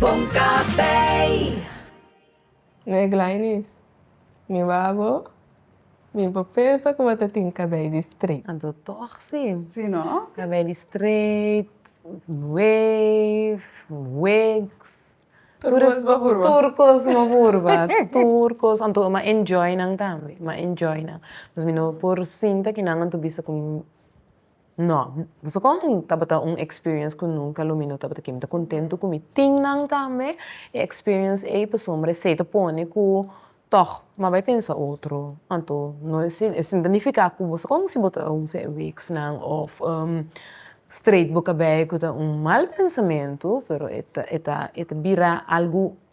Bon café. No e Glynis. Mi babo mi por pensa cu bo ta tin cabey di straight. Anto toch si. Si no. Cabey di straight, wave, wigs. Tur es pa purba. Tur cos pa purba. Tur cos. Anto ma enjoy nan tambe. Ma enjoy nan. Nos mi no por sinta ki nan anto bisa cu mi. No, su con tabata un experience cu nunca lo mi no tabata kier. Mi ta contento cu mi tin nan tambe e experience ey pasobra esey ta pone cu tog mi bay pensa otro anto no esey ta nifica cu boso con si bo ta usa e wigs nan of straight bo cabello cu ta un mal pensamento pero e ta bira algo.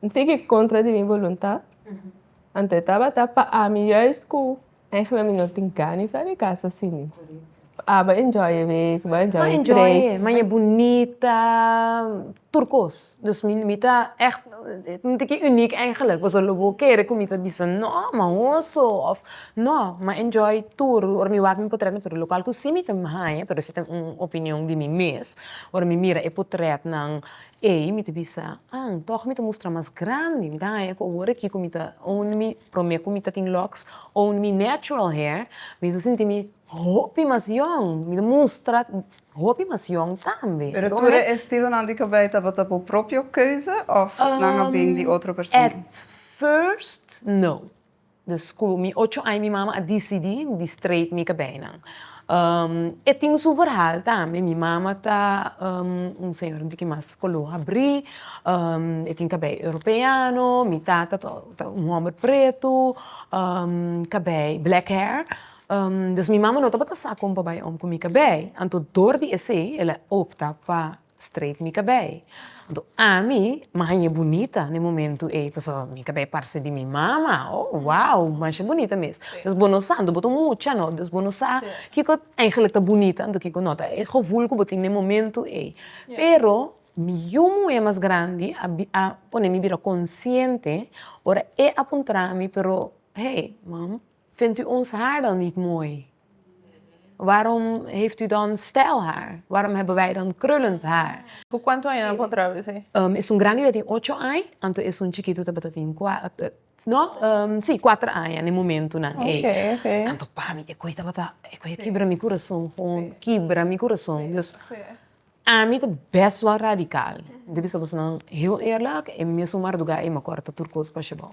N tigi kontra di mi boluntat, anto tabata pa ami juist ku Angela mi no tin gana di sa di kasa sin mi. A bo a enjoy e week, bo a enjoy e streek. Bo a enjoy e, maña bunita, tur kos. Dus mi mi ta ègt, mi ta ki uniek Angela ku so lo bo kere ku mi ta bisa nò mahoso òf nò ma enjoy tur. Ora mi wak mi potrètnan pero lokal ku si mi ta haña pero si ta un opinion di mi mes, ora mi mira e potrètnan Ei mi ta bisa, an tog mi ta mustra mas grandi, mi ta haña ku awor aki ku mi ta own mi promé ku mi ta tin lòks, own mi natural hair, mi ta sinti mi hopi mas yòn, mi ta mustra hopi mas yòn tambe. Pero tur e estilonan di kabei tabata bo propio keuze òf nan a bin di otro persona? At first no, Dus ku mi ocho aña mi mama a disidí di streit mi kabeinan. E tin su verhal tambe, mi mama ta un señor un tiki mas kolo habrí, e tin kabei europeano, mi tata ta un hòmber pretu, kabei black hair, dus mi mama no tabata sa kon pa bai om ku mi kabei, anto dor di esei el a opta pa. Straight mi kabei. Anto ami mi hañ'e bunita n'e momentu ei pasobra mi haña mi kabei parse di mi mama, oh wow masha bunita mes. Dus bo no sa, anto bo ta un mucha no, dus bo no sa kiko eigelijk ta bunita anto kiko no, ta e gevul ku bo tin n'e momentu ei. Pero mi yu muhé mas grandi a bi a pone mi bira konsiente ora e a puntra mi pero hey mam. Vindt u ons haar dan niet mooi? Waarom heeft u dan stijlhaar? Waarom hebben wij dan krullend haar? Ku kuantu aña nan por traha esei? Es un grandi tatin ocho aña, anto es un chikitu tabata tin no si kuater aña na e momentunan ei. Anto pa mi e koi tabata e koi a kibra mi kurason hondo, kibra mi kurason. Dus ami ta best wel radikal. Mi ta bisa boso nan heel eerlijk e mesun marduga ei mi a kòrta tur kos pa Shabao.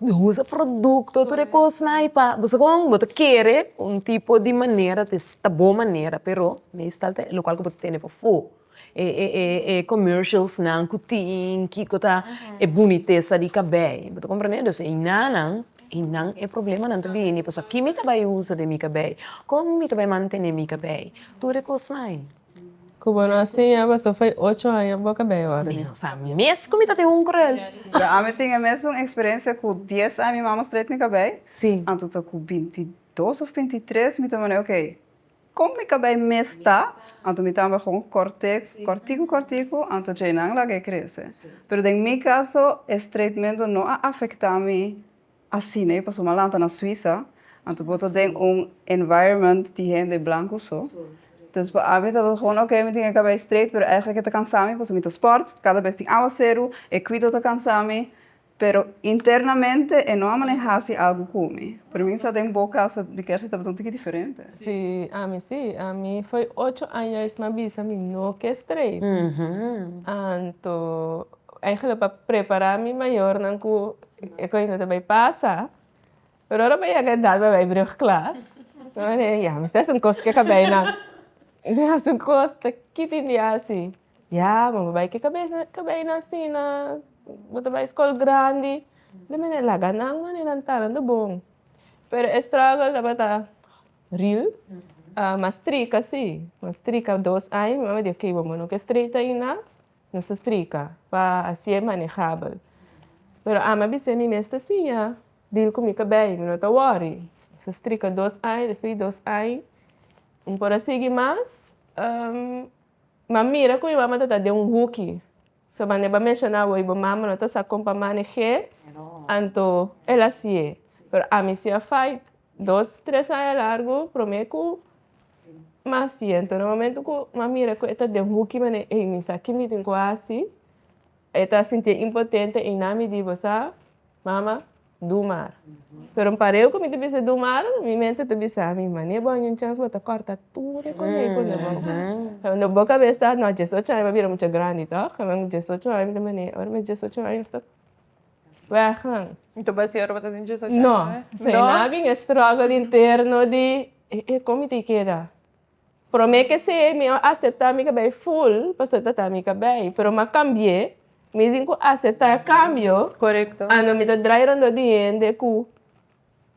usa produkto tur e kosnan ai pa bo segun bo ta kere un tipo di manera ta esista bo manera pero meestal ta e lokal ku bo ta tene pafo e e commercialsnan ku tin kiko ta e bunitesa di kabei bo ta komprende dus einanan einan e problemanan ta bini pasobra kimi ta bai usa den mi kabei kon mi ta bai mantene mi kabei tur e kosnan ai. Ku bo no a siña boso fo'i ocho aña bo ka bey ora. Mi no sa mes ku mi ta tin un cruel. Pero ami tin e mesun experiencia ku dies aña mi mama straight mi ka bey. Si. Anto ta ku binti dos of binti tres mi ta mane ok kon mi ka bey mes ta? Anto mi tambe gewoon kortex kortiku kortiku anto Jaynan laga e krese. Pero den mi kaso e straightmento no a afecta mi. Asina i pasobra nan ta na Suisa, anto bo ta den un environment di hende blanco so. Entonces pa ami tabata gewoon oké mi tin e cabei straight pero eigenlijk e ta cansa mi pasobra mi ta sport, cada bes tin awaceru, e cuido ta cansa mi, pero internamente e no a mane haci algo cu mi. Pero mi sa den bo caso mi kersi tabata un tiki diferente. Si, ami si, ami fo'i ocho aña reis mi a bisa mi no ke straight, anto eigenlijk pa prepara mi mayornan cu E kos no ta bay pasa, pero ora bay yega edad bay bay brug klas, ya mister asun kos ke kabay nan, asun kos ta kiti un dia asi, ya mama bay ke kabay nan kabay nan asina, bo ta bay skol grandi, mi mene laga nan mane nan ta nan ta bon, pero e struggle tabata ril, a mastrika si, mastrika dos aña, mi mama di oke bo mono ke street aina, Nos ta strika pa hasi e manejabel. Pero ami a bisa mi mes ta siña dil ku mi kabei, mi no ta wori. Nos ta strika dos ai, despues di dos ai mi por a sigui mas. M'a mira ku mi mama ta ta den un huki, so mane ba menshona awor bo mama no ta sa kon pa maneh'é, anto el a si'é. Pero ami si a fait Dos, tres aña largu prome ku m'a siento na momento ku m'a mira ku e ta den huki mi an'e ey mi sa ki mi tin ku hasi e ta sintié impotente ey nan mi dibo sa mama du mar pero m'pareu ku mi ta bisa du mar mi mente ta bisami mane bo a yu'n chans bo ta kòrta tur e kos ey ku unda bo ta unda bo ta bes ta no diesocho aña bo a bira mucha grandi tòg diesocho aña mi ta mane ora mi ta diesocho aña. wègnan. Nto baseo ora bo ta sinti dje-so ciego eh? No, no? nan a bin e struggle interno di e kon mi ta keda. Prome ke se mi a aseptá mi kabei ful pasobra mi ta tami kabei, pero mi a kambié, mi sin ku aseptá e kambio, ando mi ta drai rondó di hende ku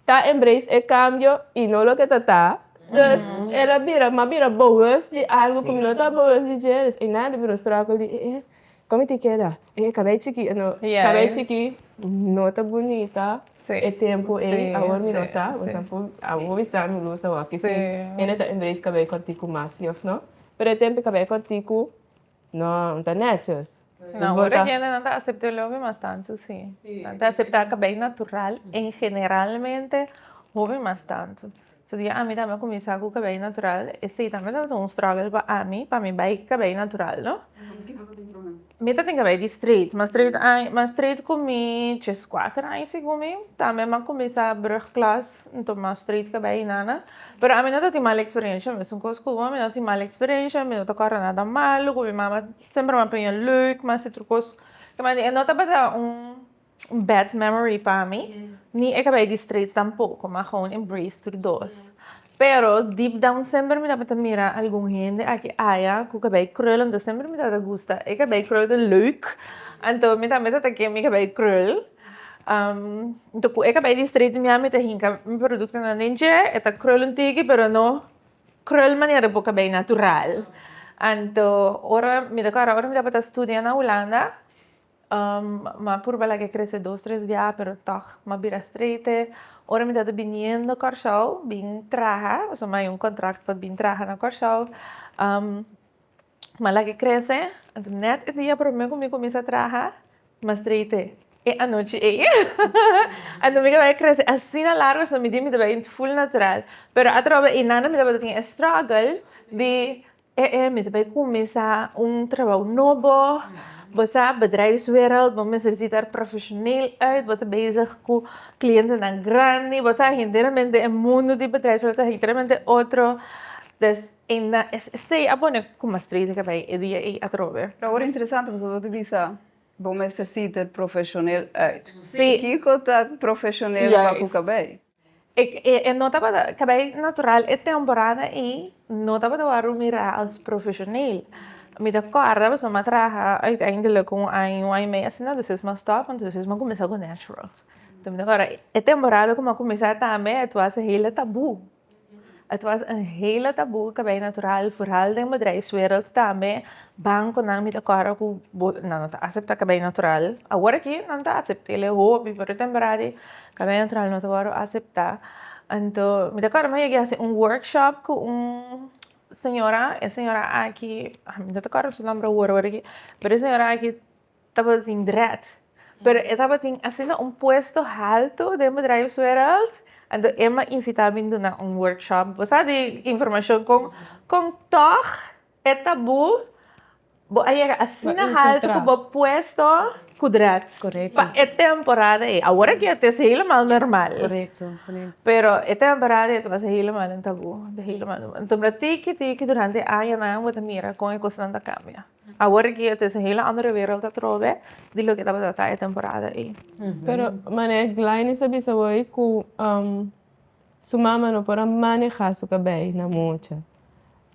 Ta embrace e cambio y no loke ta ta. Dus el a bira, mi a bira bogus di algo cu mi no ta bogus di dje. Dus e nada, mi no struggle di e e. Con mi tin keda? E e cabei chiki, e no, cabei chiki no ta bunita e tempo ey. Awor mi no sa, por example, awor mi sa mi luz awor aki si hende ta embrace cabei corticu mas, si of no? Pero e tempo e cabei corticu. No ta netjes. Na ora kende nan ta asept'e loke mas tantu si. Nan ta aseptá ka bai natural en generalmente hopi mas tantu. So di ami tambe a kuminsá ku kabei natural esei tambe tabata un struggle pa ami pa mi bai kabei natural no. Mi ta tin kabei di streit mas streit mas streit ku mi tres kuater aña segun mi tambe mi a kuminsá brug klas. Punto mas straight ka bay nana pero ami no ta tin mal experiencia mesun cos cu bo mi no tin mal experiencia mi no ta corda nada malo cu mi mama semper a paña leuk mas si tur cos ta mandi e no tabata un bad memory pa mi ni e ka bay di straight tampoco mi a gewoon embrace tur dos pero deep down semper mi tabata mira algun hende aki aya cu ka bay cruel anto semper mi tabata gusta e ka bay cruel ta leuk anto mi tambe ta taki mi ka bay cruel Nto ku e ka bai di Straight Miami ta hinka mi produktonan den dje, e ta krul un tiki pero no krul manera bo ka bai natural. Anto ora mi ta kor ora mi debata studia na Hulanda m'a purba laga e krese dos tres biaha pero tog m'a bira streite, ora mi tabata biniendo Kòrsou bin traha, pasobra mi a bai un kontrakt pa bin traha na Kòrsou Ma lag'e krese, anto nèt e dia promé ku mi kuminsá traha, ma streite e anochi ei. Anto mi kabaya krese asina largu, so mi di mi ta bai full natural. Pero atrobe i nana mi tabata tin e struggle di e e mi ta bai kuminsá un trabou nobo, bo sa bedrijfswereld, bo mester si der profeshoneel uit, bo ta bezig ku klientenan grandi, bo sa hinteramente e mundu di bedrijfswereld ta hinteramente otro. Inda esei a pone ku mas triste ke bai e dia ei atrobe. Ta ora interesante pasobra bo ta bisa bo mester siti er profeshonel uit. Kiko ta profeshonel pa ku ka bai? E no tabata ka bai natural e temporada ei no tabata wòrdu mira als profeshonel. Mi ta kòrda pasobra mi a traha uiteindelik un aña un aña i medio asina dus es mi a stòp anto dus es mi a kuminsá ku naturals. Mi ta kòrda e temporada ku mi a kuminsá tambe it was a hele tabú. Het was een hele taboe cabei natural, vooral den bedrijfswereld tambe. Banconan mi ta cora cu bo, nan no ta acepta cabei natural. Awor aki nan ta aceptele hopi, pero temporada di cabei natural no ta worde acepta. Anto mi ta cora mi a yega hasi un workshop cu un señora, e señora aki, mi no ta cora su nomber awor awor aki, pero e señora aki Tabatin dret. Pero e tabatin asina un puesto halto den bedrijfswereld. Anto Emma invita mi duna un workshop bosa di informacion con con toch e tabu bo a yega asina halto cu bo puesto cu dret. Correcto. Pa e temporada ey. Awor aki ta ser helemal normal. Correcto. Pero e temporada ey ta basa helemal den tabu. Anto tin ki tin ki durante e añanan bo ta mira con e cosnan ta cambia. Awor aki het is een hele andere wereld atrobe di loke tabata ta e temporada ei. Pero manera e Glynis a bisa hoy cu su mama no por a maneha su cabei na mucha.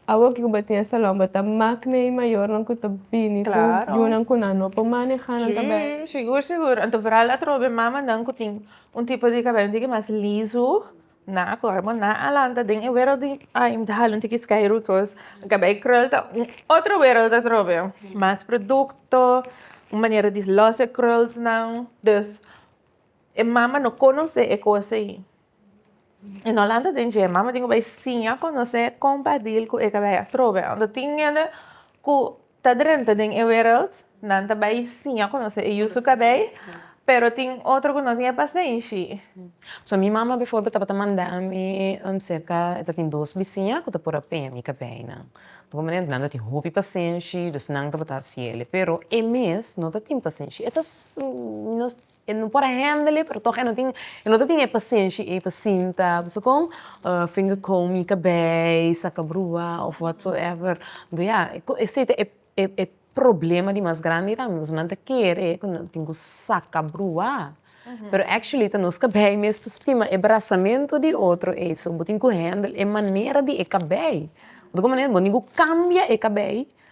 Awor aki cu bo tin e salon bo ta mak na e mayornan cu ta bini cu yunan cu nan no por maneha nan cabei. Sigur sigur, anto vooral atrobe mamanan cu tin un tipo di cabei un tiki mas liso Na akor bo na a lanta den e wereld di ai mi ta halen tiki sky root cos mi ta bai krul ta un otro wereld atrobe mas produkto un manera di los e kruls nan dus e mama no konosé e kos ei e no lanta den dje e mama tin ku bai siña konosé kon pa dil ku e kabei atrobe unda tin hende ku. Ta drenta den e wereld, nan ta bai siña ku nos e yu su kabei, pero tin otro ku no tin e pasenshi. So mi mama biforbel tabata manda mi serka, e ta tin dos bisiña ku ta por a peña mi kabei nan. Tabata manera nan ta tin hopi pasenshi, dus nan tabata hasiele, pero e mes no ta tin pasenshi. E no por a hendele pero tog e no tin e no ta tin e pasenshi ey pa sinta pasobra kon finger comb mi kabey saka brua of whatsoever do ya esey ta e problema di mas grandi nan pasobra nan ta kere ku nan tin ku saka brua pero actually ta nos kabey mes ta stima e brasamento di otro ey so bo tin ku hendel e manera di e kabey bo tin ku cambia e kabey.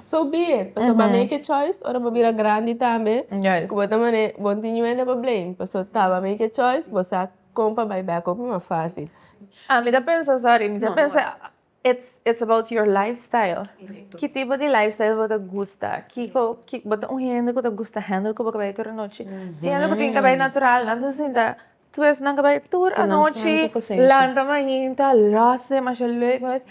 So be it paso bo a make a choice ora bo bira grandi tambe cu bo ta mane bo no tin yuende pa blame paso taba make a choice bo sa con pa bay back hopi mas facil. A mi ta pensa sorry mi ta pensa it's about your life style ki tipo di life style bo ta gusta kico bo ta un hende cu ta gusta handle cu bo cabello tur anochi tin hende cu tin cabello natural nan ta sinta Pues nan ka bai tur anochi lanta mainta loss demasha lek mes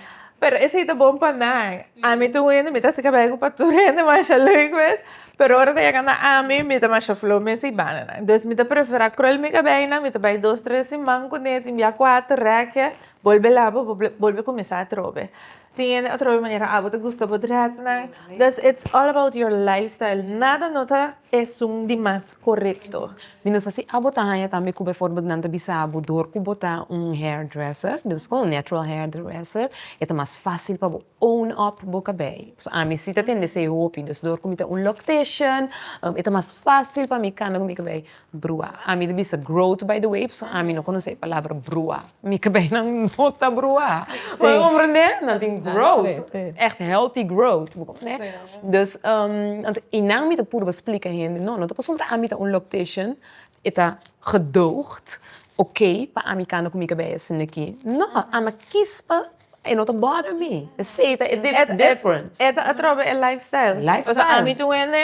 pero esei ta bon pa nan ami tur hende mi ta sika bai ku pa tur hende masha lek mes pero ora ta yaka na ami mi ta masha flo mi esei banda nan dus mi ta prefera krul mi kabei nan mi ta bai dos tres siman kuné tin bia kuater rèkje bolbe laba bolbe kuminsá atrobe Tin hende otro hopi manera abo ta gusta bo dretnan dus it's all about your lifestyle nada no ta esun di mas korekto. Mi no sa si abo ta haña tambe ku befòrbuèld nan ta bisa bo dor ku bo ta un hair dresser dus ku un natural hair dresser e ta mas fásil pa bo own up bo kabei so ami si ta tende esei hopi dus dor ku mi ta un loctician e ta mas fásil pa mi kanda ku mi kabei Brua. Ami ta bisa growth by the wave, so ami no conoce e palabra brua. Mi cabey nan no ta brua. Bo ta comprende? Nan tin growth, echt healthy growth. Bo comprende? Dus, anto e nan mi ta purba splica e hende, no, no ta pasobra ami ta un loctician, e ta gedoogd, ok, pa ami cana cu mi cabey a hacindo aki. No, ami a kies pa, e no ta bother mi. Esey ta e difference. E ta atrobe e lifestyle. Lifestyle. Pasobra ami ta un hende,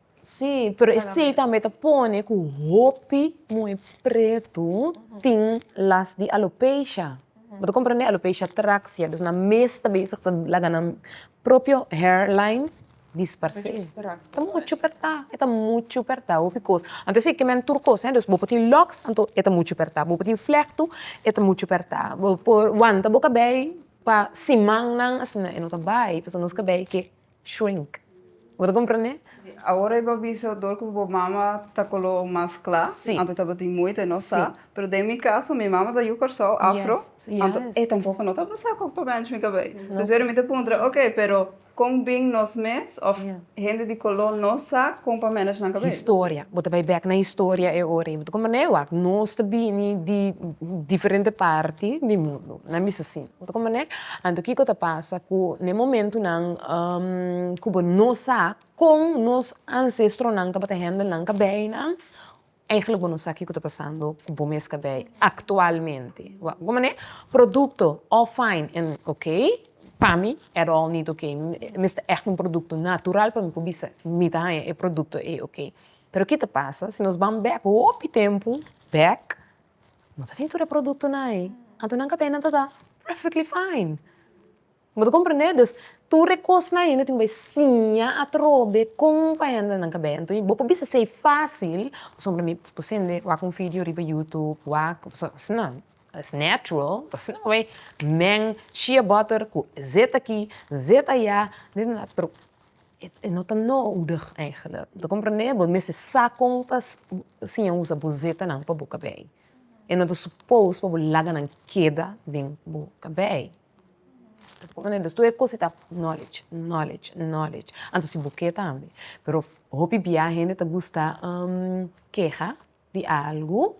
Sí, pero esei tambe ta pone ku hopi muhe pretu tin las di alopecia. Bo ta komprende? Alopecia atraxia, dus nan mes ta bezig ta laga nan propio hair line disparsé. Ta muchu apertá, e ta muchu apertá hopi kos. Anto esei ta kemba tur kos, dus bo por tin lòks, anto e ta muchu apertá. Bo por tin flèktu, e ta muchu apertá. Bo por wanta bo kabei pa simannan asina, e no ta bai pasobra nos kabei ke. Shrink. Bo ta comprende? Awor e bo bisa dor cu bo mama ta colo mas cla. Si. Anto tabatin moite no sa. Si. Pero den mi caso, mi mama ta yu Corsou, afro. Yes. Yes. Anto e tampoco no tabata sa con pa manch mi cabey. No. Tus ora mi ta puntra, ok, pero con bin nos mes of Yeah. hende di color no sa con pa manage nan cabey? Historia. Bo ta bay back na historia e ora ey. Bo ta comprende? Wak, nos ta bini di diferente parti di mundo. Nan bisa si. Tok manera, anto kiko ta pasa ku na e momentunan ku bo no sa kon nos ansestronan tabata hendel nan kabei einan, eigelik bo no sa kiko ta pasando ku bo mes kabei aktualmente. Tok manera, produkto òf fain en ok, pa mi at all nit ok. Mi mester ègt un produkto natural pa mi por bisa mi ta haña e produkto ei ok. Pero kiko ta pasa si nos ban bèk hopi tempu bèk? No ta tin tur e produktonan ei, anto nan kapé nan ta ta perfectly fine. Bo ta komprendé? Dus tur e kosnan hende tin bay siña atrobe kon pa hende nan kabé. Anto bo por bisa si ey fácil pasobra mi por sende wak un vidio riba youtube wak pasobra asina nan es natural asina awey mèn shea butter ku zet aki zet ayá pero E no ta nodig eigenlik. Mi ta komprende bo mester sa kon pa siña usa bozetanan pa bo kabei. E no ta supos pa bo laga nan keda den bo kabei. Dus tur e kos di ta knowledge, knowledge, knowledge. Anto si bo ke tambe. Pero hopi bia hende ta gusta keha. di algu,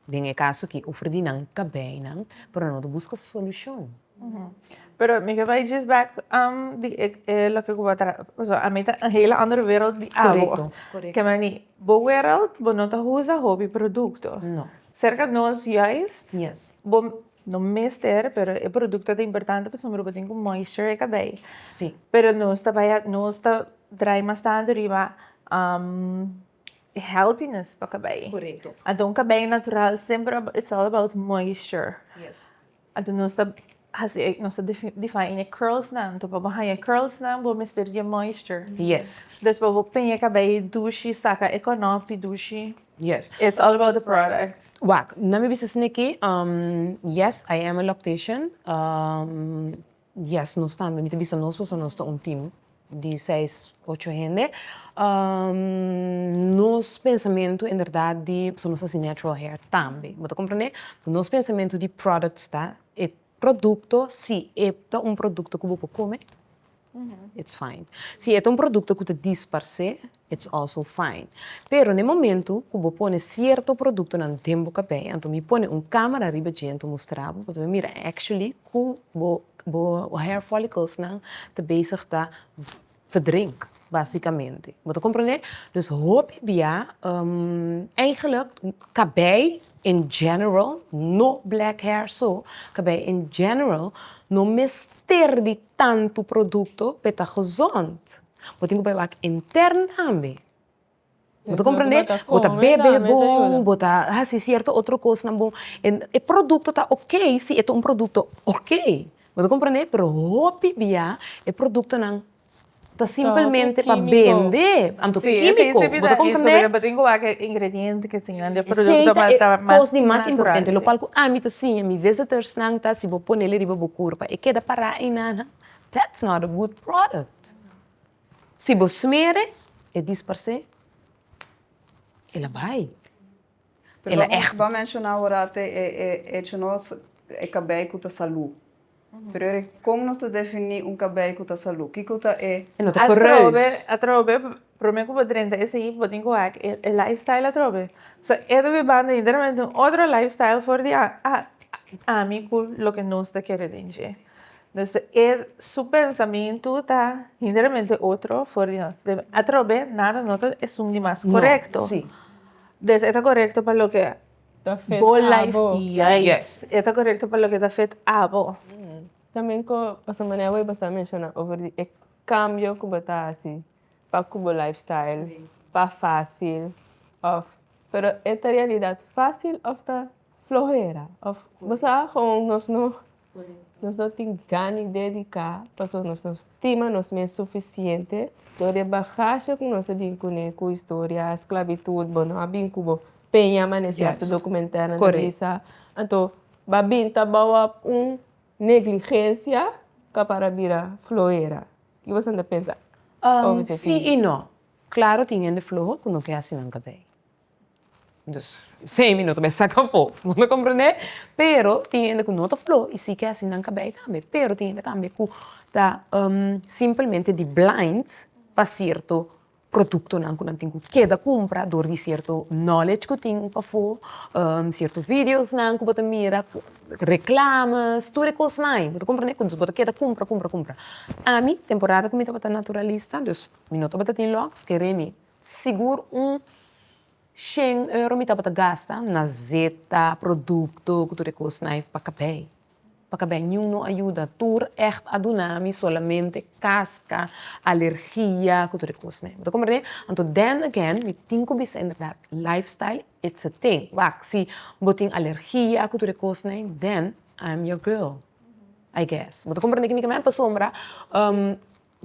den e kaso aki of di nan ka bay nan, pero nan ta buska solucion. Pero mi ke bai djis bek di loke ku bo a traha, pasobra ami ta un hele ander wereld di abo. Correcto. Ke manera, bo wereld bo no ta usa hopi producto. No. Serka nos juist. Yes. Bo no mester, pero e producto ta importante pasobra bo ta tin ku moisture e kabei. Si. Pero nos ta bai nos ta drai mas tantu riba. e healthiness pa kabei. Correcto. Anto un kabei natural semper it's all about moisture. Yes. Anto nos ta hasi e nos ta define e curls nan. Anto pa bo haña e curls nan bo mester di e moisture. Yes. Dus pa bo peña e kabei dushi saka e konopi dushi. Yes. It's all about the product. Wak, nan mi bisa esaki yes I am a loctation. Yes nos tambe mi ta bisa nos pasobra nos ta un team di seis ocho hende nos pensamentu en berdad di pasobra nos ta hasi natural hair tambe bo ta comprende nos pensamentu di products ta e producto si e ta un producto ku bo por kome it's fine si e ta un producto ku ta disparse It's also fine. Pero n'e momento cu bo pone cierto productonan den bo cabey, anto mi pone un camera riba dje anto mustra bo, pasobra mira actually cu bo bo hair folliclesnan ta bezig ta verdrink, basicamente. Bo ta comprende? Dus hopi bia eigenlijk cabey in general, no black hair so, cabey in general no mester di tanto producto pa e ta gezond. Bo tin ku bay wak intern tambe. Bo ta komprende? Bo ta bebe bon, bo ta hasi sierto otro kosnan bon. E produkto ta oke si e ta un produkto oke. Bo ta komprende? Pero hopi bia e produktonan ta simplemente pa bende, anto kímiko. Bo ta komprende? Seita e kos di mas importante, lokual ku ami ta siña mi visitorsnan ta si bo ponel e riba bo kurpa e keda pará einanan. That's not a good product. Si bo smere, e disparsé, el a bai. Pero bo a bo a menshoná orate e e echo nos e kabei ku ta salú. Pero ere kon nos ta definí un kabei ku ta salú? Kiko ta e. E no ta koreus. Atrobe, atrobe. Prome cu bo drenta esey bo tin cu hak e lifestyle atrobe. So e ta bibando enteramente un otro lifestyle for di ami cu loke nos ta kere den dje. Dus e su pensamentu ta enteramente otro for di nos. Atrobe nada no ta esun di mas corecto. Des e ta corecto pa loke bo lifestyle. Yes. E ta corecto pa loke ta fit abo. Tambe co pasobra manera wey bo sa menciona over di e cambio cu bo ta haci. Pa ku bo lifestyle ta fásil òf. Pero e ta realidat fásil òf ta flohera? Òf bo sa kon nos no nos no tin gana di dediká pasobra nos no stima nos mes sufisiente dor e bahasha ku nos a bin kuné ku historia sklabitut bo no a bin ku bo peña manesia tu dokumenternan di bisa anto ba bin ta bou ap un negligensia ka para bira flohera. Ki boso ta pensa over se fiju? Si i no. Claro tin hende floho cu no ke haci nan cabei. Dus semi no ta bay saca afo. Bo ta comprende? Pero tin hende cu no ta floho y si ke haci nan cabei tambe. Pero tin hende tambe cu ta simplemente di blind pa cierto. produktonan ku nan tin ku keda kumpra dor di sierto knowledge ku tin pafó, sierto videosnan ku bo ta mira, reklamas, tur e kosnan ai bo ta komprendé kos bo ta keda kumpra, kumpra, kumpra. Ami temporada ku mi tabata naturalista dus mi no tabata tin lòks kere mi sigur un shen euro mi tabata gasta na zeta, produkto ku tur e kosnan ai pa kabei. Pa cabè niun no ayuda, tur echt a duna mi solamente casca, alergia cu tur e cos me. Bo ta comprende? Anto then again mi tin cu bisa inderdat life style it's a thing. Wak, si bo tin alergia cu tur e cos me then I'm your girl I guess. Bo ta comprende cu mi caminda pa sombra.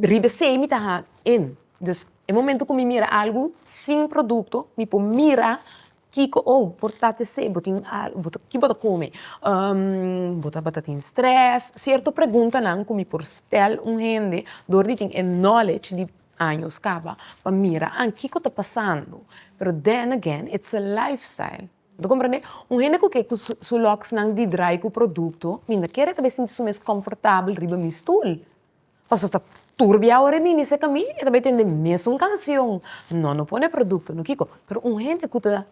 Riba esei mi ta hack in. Dus e momento ku mi mira algu sin produkto mi por mira kiko oh por ta te se bo tin algu kiko bo ta kome bo tabata tin stress sierto preguntanan ku mi por stèl un hende dor di tin e knowledge di años kaba pa mira an kiko ta pasando pero then again it's a life style bo ta komprende un hende ku ke ku su lòksnan di drai ku produkto mi na kere ta sinti su mes komfortabel riba mi stul. Paso ta turbia awe e mini seka mi e ta bay tende mesun kancion no no pone produkto no kiko pero un hende ku ta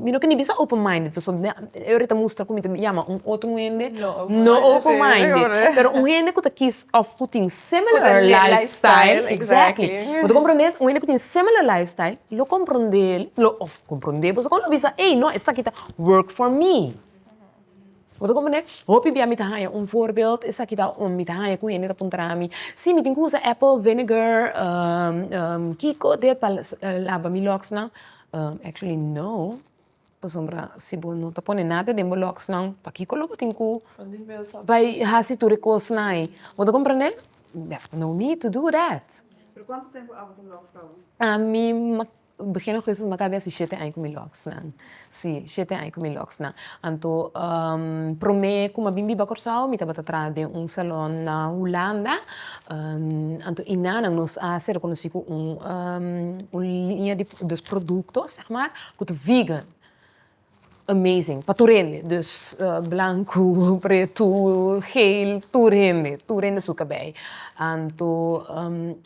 mi no kende bisa open minded paso e ora ta mustra ku mi ta yama un otro hende no open minded pero un hende ku ta kis of ku tin similar life style exactly bo ta comprende un hende ku tin similar life style lo comprende lo of comprende paso konta lo bisa ey no esaki ta work for me. Bo ta comprendé? Hopi bia mi ta haña un voorbeeld. Esaki ta un mi ta haña ku hende ta puntra na mi, Sí, mi tin ku usa apple vinegar, kiko det pa laba mi lòksnan? Actually no, pasobra si bo no ta pone nada den bo lòksnan, pakiko lo bo tin ku bai hasi tur e kosnan ei? Bo ta comprendé? No need to do that. Ami. Begin no Jesús maka bia si shete aña ku mi loksnan. Si, shete aña ku mi loksnan. Anto, promé ku mi a bin biba Kòrsou, mi tabata traha den un salòn na Hulanda. Anto i nanan nos a ser rekonosí ku un un liña di dos produkto, sègmar, ku ta vegan. Amazing pa tur hende dus blanku, pretu, geel tur hende tur hende su kabei anto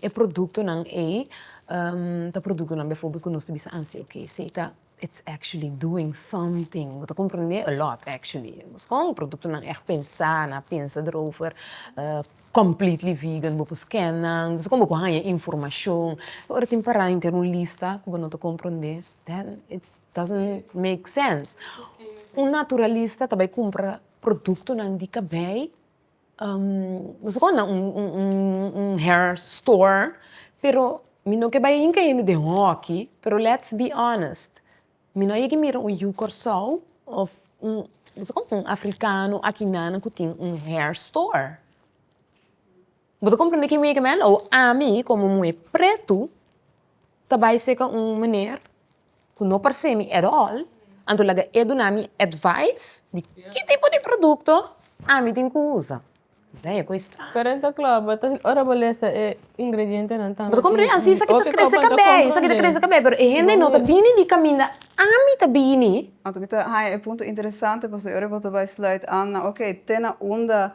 e produktonan ei ta produktonan befobel ku nos ta bisa ansi ok sei ta its actually doing something bo ta komprende a lot actually skon produktonan echt pensa na pensa derover completely vegan bo por sken nan bo skon bo por haña informashon ora tin para inter un lista ku bo no ta komprende den. Doesn't make sense. Un naturalista ta bai kumpra produktonan di kabei, mi ta kos na un hair store pero mi no ke bai hinka hende den hòki pero let's be honest mi no a yegi mira un yu kòrsou òf un mi ta kos na un afrikano aki nan ku tin un hair store. Bo ta komprende kin muhé ke mel o ami komo muhé pretu ta bai seka un meneer ku no parsemi at all anto laga e duna mi advise di ki tipo di produkto ami tin ku usa nta e koe strano. Karenta kla bo ta ora bo lesa e ingredientenan tan. Bo ta komprende asi esaki ta kres e kabei esaki ta kres e kabei pero e hende no ta bini di kaminda ami ta bini. Anto mi ta haña e punto interesante pasobra ora bo ta bai sluit an na oke te na unda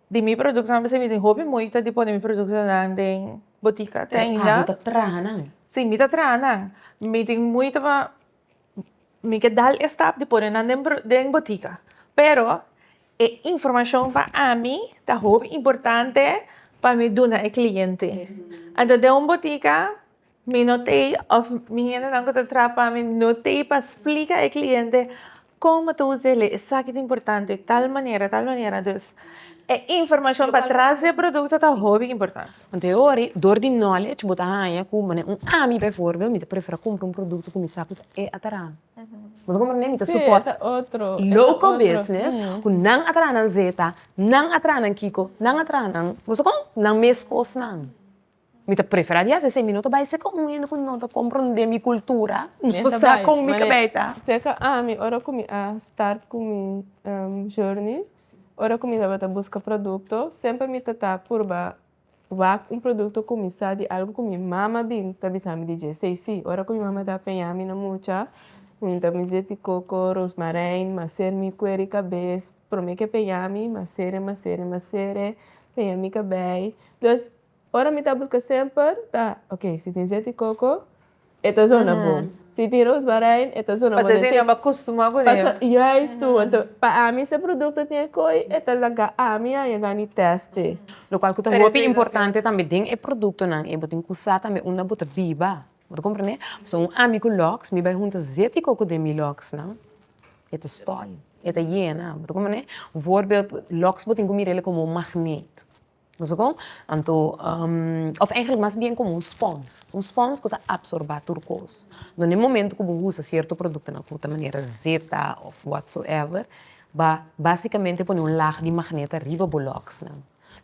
Di mi productonan besey mi tin hopi moita di pone mi productonan den botica tenda. Ah bo ta traha nan? Si mi ta traha nan, mi tin moita pa mi ke dal e stap di pone nan den botica pero e informacion pa ami ta hopi importante pa mi duna e cliente anto den un botica Mi no t'ei, of mi hendenan ku ta traha pa mi no t'ei pa splika e kliente kon bo ta usa el, esaki ta importante tal manera tal manera dus e informashon pa tras di e produkto ta hopi importante. Anto ori dor di knowledge bo ta haña ku manera un ami beforbel mi ta prefera kumpra un produkto ku mi sa ku ta e a traha bo ta komprende mi ta suport local business ku nan a traha nan zeta nan a traha nan kiko nan a traha nan bo sa kon nan mes kosnan. Mi ta prefera di hasi esei, mi no ta bai serka un hende ku no ta komprondé mi kultura, no sa kon mi ta bai ta. Serka ami, ora ku mi a start ku mi journey, ora ku mi tabata buska produkto, semper mi ta ta purba wak un produkto ku mi sa di algu ku mi mama bin ta bisa mi di dje. Esei si, ora ku mi mama ta peña mi na mucha, mi bin ta mester di koko, rosmarein, maser mi kue ri kabes, promé ke peña mi, masere, masere, masere, peña mi kabei, dus. Ora mi ta buska semper ta ok si tin zet di koko e ta zona bon si tin roos bahrain e ta zona bon pasobra asina bo a custumá cu nan pasobra juisto ento pa ami si e producto tin e coy e ta laga ami a yaga ni teste locual cu ta hopi importante tambe den e producto nan e bo tin cu sa tambe unda bo ta biba bo ta comprende so un amigo locks mi bay hunta zet di koko den mi locks nan e ta stòp e ta yena bo ta comprende voorbeeld locks bo tin cu mirele como un magnet. Pasobra anto òf èntlik mas bien komo un spons, un spons ku ta apsorbá tur kos. Dor den momentu ku bo usa sierto produktonan ku ta manera zeta òf whatsoever ba basikamente pone un lag di magnet ariba bo lòksnan.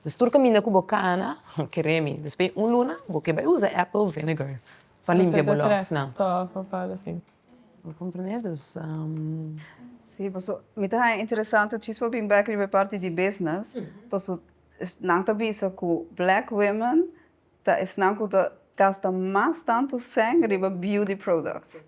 Dus tur kaminda ku bo kana, kere mi, despues di un luna bo ke bai usa apple vinegar pa limpia bo lòksnan. Bo comprende dus si paso mi ta haña interesante chispa bin bek riba e parti di business paso nan ta bisa cu black women ta esnan cu ta gasta mas tanto seng riba beauty products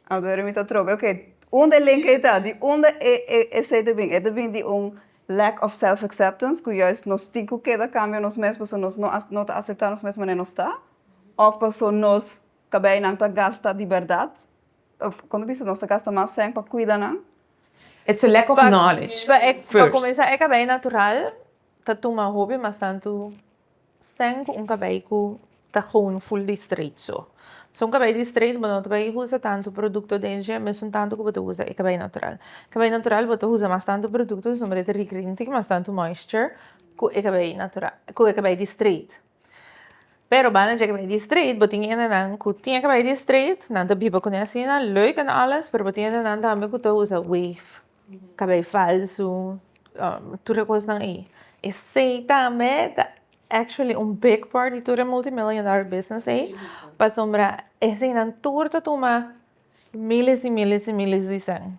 aduer mi ta trobe oke unda e link ey ta di unda e aceite bin e ta bin di un lack of self exceptance cu juist nos tin cu keda cambia nos mes paso nos no ta acepta nos mes manera nos ta of paso nos Kabei nan ta gasta di berdad? Of con ta bisa nos ta gasta mas sèn pa cuida nan? It's a lack of knowledge first. Pa cuminsa e kabei natural ta tuma hopi mas tantu sèn cu un kabei cu ta gewoon full di straight so. So un kabei di straight bo no ta bay usa tantu producto den dje mesun tantu cu bo ta usa e kabei natural. Kabei natural bo ta usa mas tantu producto esumber e ta rikrintiki mas tantu moisture cu e kabei natural cu e kabei di straight. Pero bal nan djeki bay di street bo tin endenan cu tin eke bay di street nan ta biba cune asina leuk en alles pero bo tin endenan tambe cu ta usa wave cabay falso tur e cosnan ayi esey tambe ta actually un big part di tur e multimillion dollar business ey pasobra esey nan tur ta tuma miles y miles y miles di cen.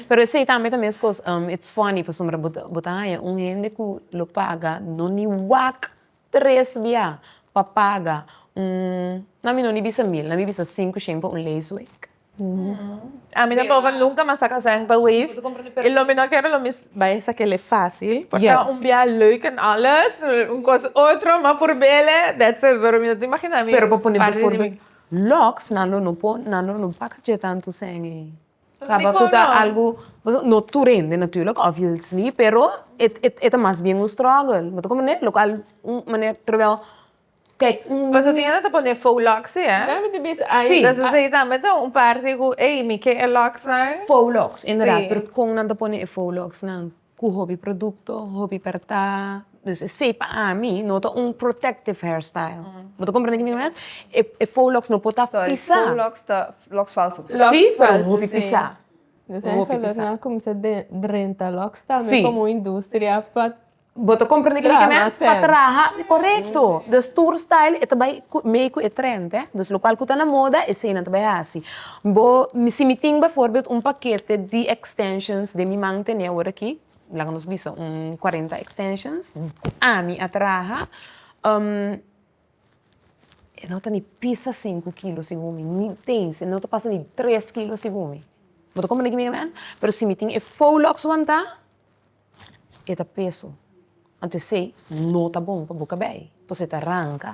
Pero esey tambe ta mescos um it's funny pasobra bo bo ta haña un hende cu lo paga no ni wak tres bia pa paga un na mi no ni bisa mil na mi bisa cinco shen pa un lace wig. A mi tampoco nunca mas a casa en pa wave y lo mi no quiero lo mi bay esa kele facil por ta un bia leuk en alles un cos otro mas por bele that's it pero mi no ta imagina mi par de rimi. Pero pa pone bijvoorbeeld locks nan lo no po nan lo no paga dje tanto shen. Kaba ku ta algu, no tur hende naturlik obviously, pero e ta mas bien un struggle, bo ta komprende? Lokal un maner trabel kijk un. Pasobra tin hende ta pone fo locks e eh? Dame di bisa ai. Si. Entonces ei tambe ta un parti ku ei mi ke e locks nan. Fo locks, inderdat, pero kon nan ta pone e fo locks nan? Cu hopi producto, hopi pertá. Dus esey pa ami no ta un protective hairstyle. Bo ta comprende cu mi ta bisa? E fo locks no por ta pisá. Sorry, fo locks ta locks falso. Sí, pero hopi pisá. Dus a esey locks no a cuminsa drenta locks tambe como un industria pa. Bo ta comprende cu mi ta bisa? Pa traha, corecto. Dus tur style e ta bay mee cu e trend, eh. Dus locual cu ta na moda eseynan ta bay haci. Bo, si mi tin befòrbild un pakete di extensions den mi man ten'é awor-aki, laga nos bisa un cuarenta extensions ku ami a traha, e no ta ni pisa sinku kilo segun mi, ni teinse no ta pasa ni tres kilo segun mi, bo ta komprendé kimin a bihaña? Pero si mi tin e fowlòks wantá, e ta peso, anto esei no ta bon pa bo kabei, pasobra e ta ranka.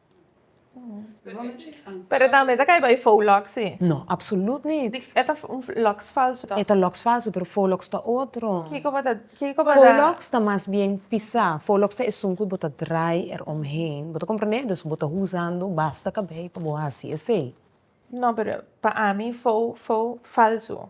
Pero e tambe ta kai bai fou locks si? No, absolut nit. Di e ta un locks falso toch? E ta locks falso, pero fou locks ta otro. Kiko bo ta, kiko bo ta? Fou locks ta mas bien pisá. Fou locks ta esun ku bo ta drai er omheen. Bo ta komprendé? Dus bo ta huzando basta kabei pa bo hasi esei. No, pero pa ami fou, fou falso.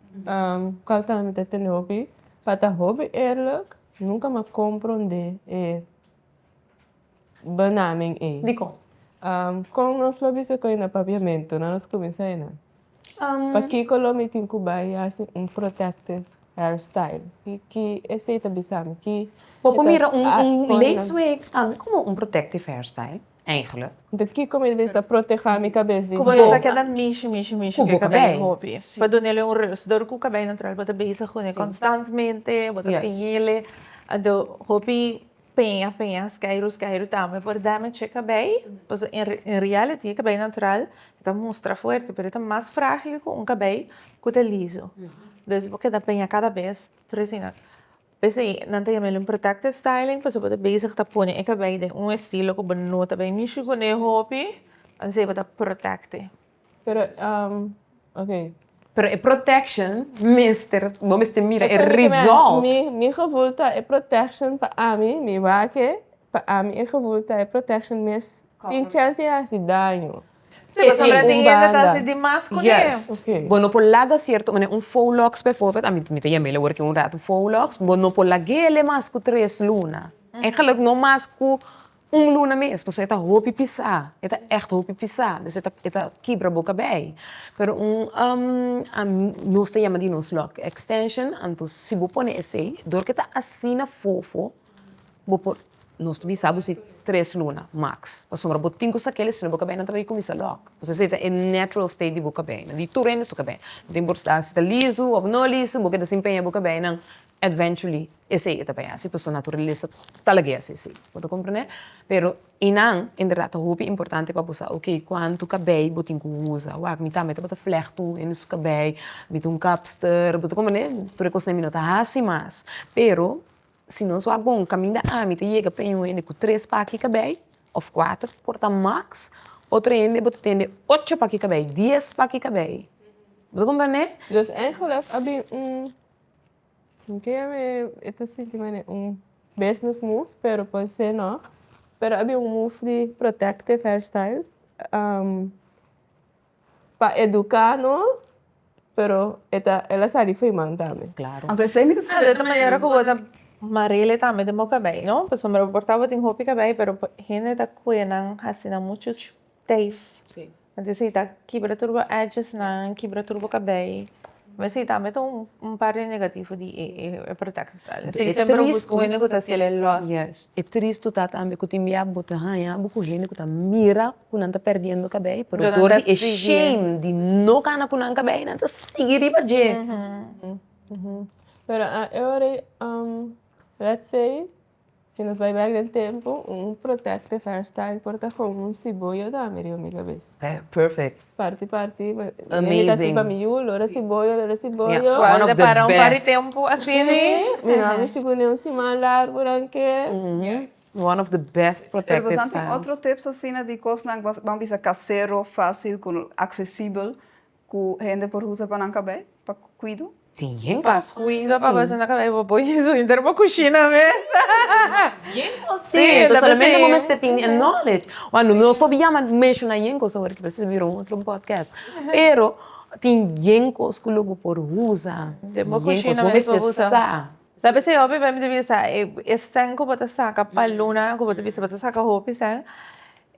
Kal kara mi ta tende hopi? Pa ta hopi eerlik, nunca m'a compro un di e benamen ei. Dikon? Con nos lo bisa cu ena papiamento na nos cuminsa ena? Pakico lo mi tin cu bay haci un protective hair style? Ki esey ta bisami? Ki. Bo por mira un lace wig tambe como un protective hair style. Eigenlijk. Nta kiko mi ta bisa proteha mi kabes di bo? Ku bo ta keda mishi mishi mishi ku e kabei hopi. Pa dunele un rust. Dor ku kabei natural bo ta bisa ku ne konstantmente, bo ta piñele. Anto hopi peña peña skeiru skeiru tambe por damage e kabei. Pasobra en reality e kabei natural ta mustra fuerte pero e ta mas fragil ku un kabei ku ta liso. Dus bo keda peña kada bes tur asina. P'esei nan ta yam'el un protective styling pasobra bo ta bezig ta pone e kabei den un estilo ku bo no ta bai mishi ku ne hopi, ansei bo ta protecte. Pero oke. Pero e protection mester bo mester mira e result. Mi gevoel ta e protection pa ami mi wak e pa ami e gevoel ta e protection mes tin chance di hasi daño. Sí, pasobra tin hende ta hasi banda. di mas kuné. Yes. Oké. Bo no por laga sierto mané un fowlòks beforbèld, ami mi ta yam'e awor ki un ratu fowlòks, bo no por lag'ele mas ku tres luna. En geluk no mas ku un luna mes pasobra e ta hopi pisá, e ta ègt hopi pisá, dus e ta e ta kibra bo kabei. Pero un nos ta yama di nos lòk extension, anto si bo pone esei dor ke ta asina fofo. Bo por nos ta bisa bo si tres luna max pasobra bo tin ku sa kele sino bo kabei nan ta bai kuminsa lòk pasobra esei ta e natural state di bo kabei nan di tur hende su kabei bo tin por sta si ta lisu òf no lisu bo ke desempeña bo kabei nan eventually esei e ta bai asi pasobra naturalesa ta lag'e a hasi bo ta komprende pero i nan en berdad ta hopi importante pa bo sa okay kuantu kabei bo tin ku usa wak mi tambe tabata flèk tur hende su kabei mi ta un kapster bo ta komprende tur e kosnan mi no ta hasi mas pero Si nos wak bon, kaminda ami ta yega p'e un hende ku tres paki kabei òf kuater por ta maks. Otro hende bo ta tende ocho paki kabei, dies paki kabei. Bo ta komprendé? Dus èngeles a bin un, no ke a mi e ta sinti manera un business move pero p'esei nò. Pero a bin un move di protèkte hèr style. Pa educa nos, pero e ta el a sali fo'i man tambe. Claro. Avece mi ta sali de manera cu bo ta. Marele tambe den bo cabei no? Pasobra bo por ta bo tin hopi cabei pero hende ta coe nan haci nan mucho stijf. Si. Anto esey ta kibra tur bo edges nan, kibra tur bo cabei. Esey tambe ta un parti negativo di e protectie style. Esey ta siempre bo busca un hende cu ta haci el los. Yes. E tristo ta tambe cu tin bia bo ta haya bo cu hende cu ta mira ku nan ta perdiendo kabei pero dor di e shame di no kana ku nan kabei nan ta sigui riba dje. Pero a e ora ei let's say si nos bai bek den tempo un protective hair style por ta gou un siboyo tambe riba mi kabes parti parti mi ta tipa mi yu lo de siboyo lo de siboyo mi no a bishi ku nen siman largu nan ke. One of the best protective styles. Pero boso a tin otro tips asina di cosnan cu bamos bisa casero, facil, cu accesibel cu hende por usa pa nan cabei pa cuido? Tin bien cosas cu tin. Pa usa pa basa na cabei bo poi eso inter bo cushina mes. Bien cosas tin. Sí, entonces solamente bo mester tin e knowledge. Bueno, nos por biaha a menciona yen cosas awe pero eso ta bira un otro podcast. Pero tin yen cosas cu lo bo por usa. Den bo cushina mes bo usa. Bo mester sa. Sa p'esei hopi fe mi ta bisa e sèn ku bo ta saka pa luna ku bo ta bisa bo ta saka hopi sèn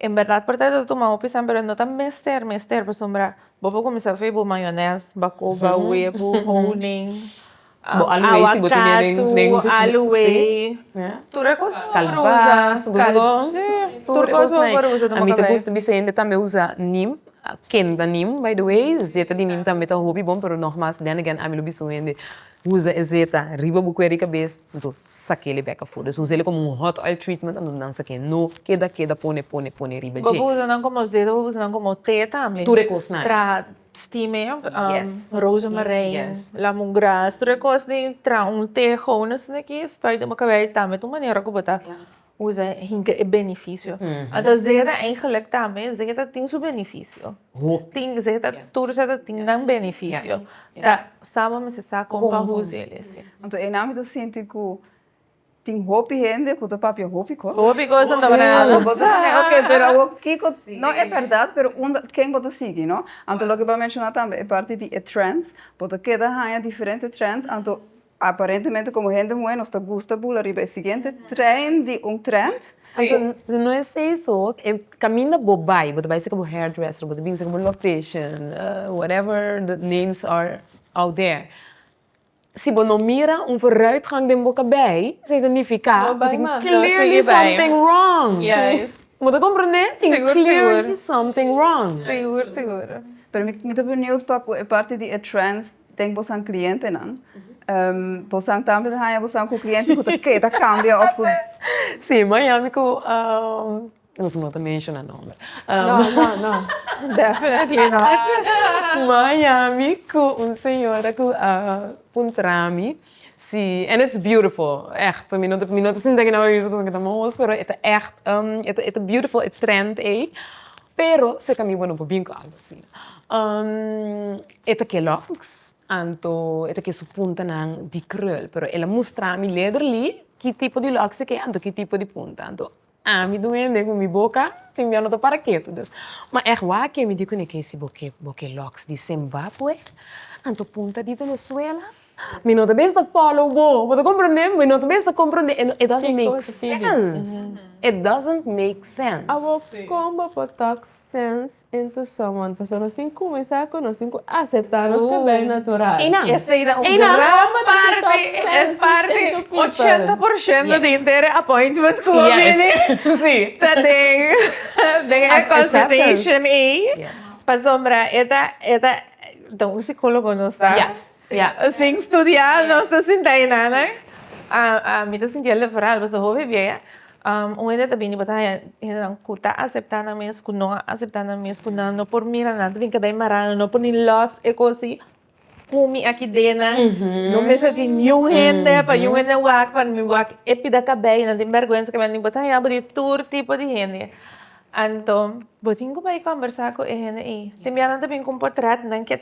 en bèrdat por ta tuma hopi sèn pero no ta mester mester pasobra bo por kuminsá fe bo mayonèz, bakoba, webo, honing, awakatu, aluei tur e kos nan por uza tur e kos nan por uza tuma kafé. Mi ta gusta bisa hende tambe uza nim kenda nim by the way zeta di nim tambe ta hopi bon pero nogmas then again ami lo bisa un hende Usa e zeta riba bu cuer y cabes, anto sakel e bek afora. Despues usel como un hot oil treatment anto nan sakel. No keda keda pone pone pone riba dje. Bo por usa nan como zeta, bo por usa nan como te tambe. Tur e cos nan. Tra steam e, rozemarijn, lamongras, tur e cos di tra un te gou nan sindi aki spuit den bo cabei tambe ta un manera cu bo ta Hoe zij hinke e beneficio. Anto zij ta eigenlijk tambe, zij ta tin su beneficio. Tin, zij ta, tur zij ta tin nan beneficio. Ta, sa bo mester sa kon pa hoe zij e si. Anto e nami ta sinti ku tin hopi hende ku ta papia hopi kos. Hopi kos anto bo ta haña. Anto bo ta haña, ok, pero awor kiko, no e bèrdat, pero unda, ken bo ta sigui, no? Anto loke bo a menshoná tambe e parti di e trends, bo ta keda haña diferente trends, anto. Aparentemente como hende muhe nos ta gusta bula riba e siguiente trein di un trend. Anto no esei so, caminda bo bai, bo ta bai cerca bo hairdresser, bo ta bini cerca bo loctician, whatever the names are out there, si bo no mira un vooruitgang den bo cabei esei ta nifica bo tin clearly something wrong, bo ta comprende? tin clearly something wrong. Pero mi ta benieuwd pacu e parti di e trends. Ten bosan clientenan. bosan tambe ta haña bosan cu cliente cu ta keda cambia of cu. Si, bo a haña mi cu, nos no ta menciona nomber. Definitely not. Bo a haña mi cu un señora cu a puntra mi si, and it's beautiful, echt, mi no ta, mi no ta sinti aki na Paris pasobra mi ta mohos, pero e ta echt, e ta beautiful e trend ei. Pero se ta mi bo no por bin cu algo asina. E ta ke locks anto e ta ke su puntanan di krul pero el a mustrami leder li ki tipo di locks e ke anto ki tipo di punta anto ami duende cu mi boca tin biaha no ta para ketu dus ma echt wak a kemi di cu ne ke si bo ke bo ke locks di Zimbabwe anto punta di Venezuela. Mi no ta bes ta follow bo, bo ta comprende? Mi no ta bes ta comprende e doesn't make sense it doesn't make sense. Awor con bo por tok sense into someone pasobra nos tin cuminsa cu nos tin cu acepta nos cabal natural esey ta un gran parti es parti ochenta por ciento di inter e appointment cu bo bini ta den den e consultation ey pasobra e ta e ta ta un psicologo nos ta Ya, sin studia nos ta sinta ei nan ei. Mi ta sintia liberal pasobra hopi biaha un hende ta bini botana hendenan ku ta asepta nan mes ku no a asepta nan mes ku nan no por mira nan ta bin kaba e marana no por ni lòs e kos ei ku mi aki den nan no mester tin niun hende pa niun hende wak pa mi wak e pida kabei nan tin bèrgwensa kabei nan tin botana yama di tur tipo di hende anto bo tin ku bai kòmbersa ku e hende ei tin biaha nan ta bin ku un potret nan ke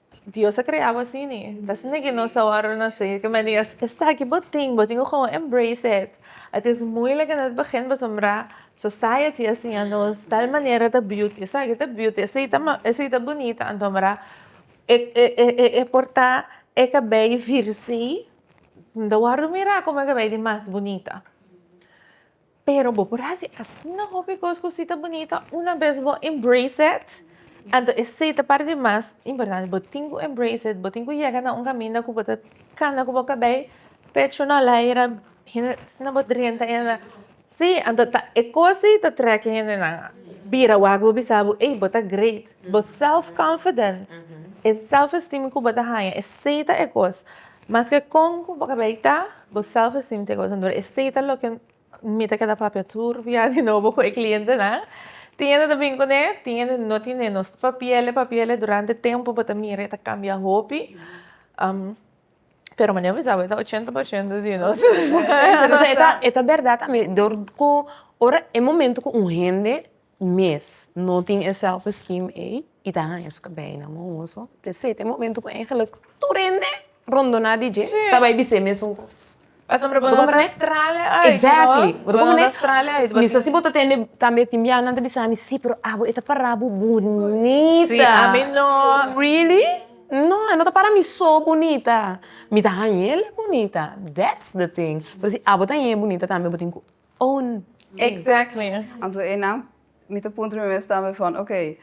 Dios a crea bo así ni. Ta sende que nos awor lo nace. Yo que me diga, esaki bo tin, bo tin cu gewoon embrace it. Het is moeilijk in het begin pasobra society a siña nos tal manera ta beauty, esaki ta beauty, esey ta ma, esey ta bunita. Anto mira, e e e e porta e cabei virsi, tin ta wordo mira como e cabei di mas bunita. Pero bo por hasi asina hopi cos cu si ta bunita una bes bo embrace it, anto esey ta parte di mas importante, bo tin cu embrace it, bo tin cu yega na un caminda cu bo ta cana cu bo cabey, pecho no a laira, asina bo drenta hendenan, si, anto ta e cos ey ta trek hendenan bira wak bo bisa bo ey bo ta great, bo self confident, e self esteem cu bo ta haya esey ta e cos. Maske kon ku bo ka bai ta, bo self esteem tin ku a sumida. Esei ta loke mi ta keda papia tur bia di nobo ku e klientenan. Tin hende ta bin kuné, tin hende no tin idea. Nos ta papiele, papiele durante tempu bo ta mira e ta kambia hopi. Pero manera mi sa bo e ta ochenta por shento di nos. Entonces e ta berdat tambe dor ku ora e momento ku un hende. mes no tin e self esteem ei y ta haña su cabello na mou oso te sete momento cu eigenlijk tur hende rondoná di dje ta bay bis'é mesun cos. Pasobra bo no ta strale uit, no? Exactly! Bo ta comprende? Mi sa si bo ta tende tambe tin biaha nan ta bisami sí pero abo e ta para bo bunita. Sí, ami no. Really? No, e no ta para mi so bunita. Mi ta hañ'é lek bunita. That's the thing. Pero si abo ta hañ'é bunita tambe bo tin cu. own way. Exactly. Anto e nan, mi ta puntra mi mes tambe van ok,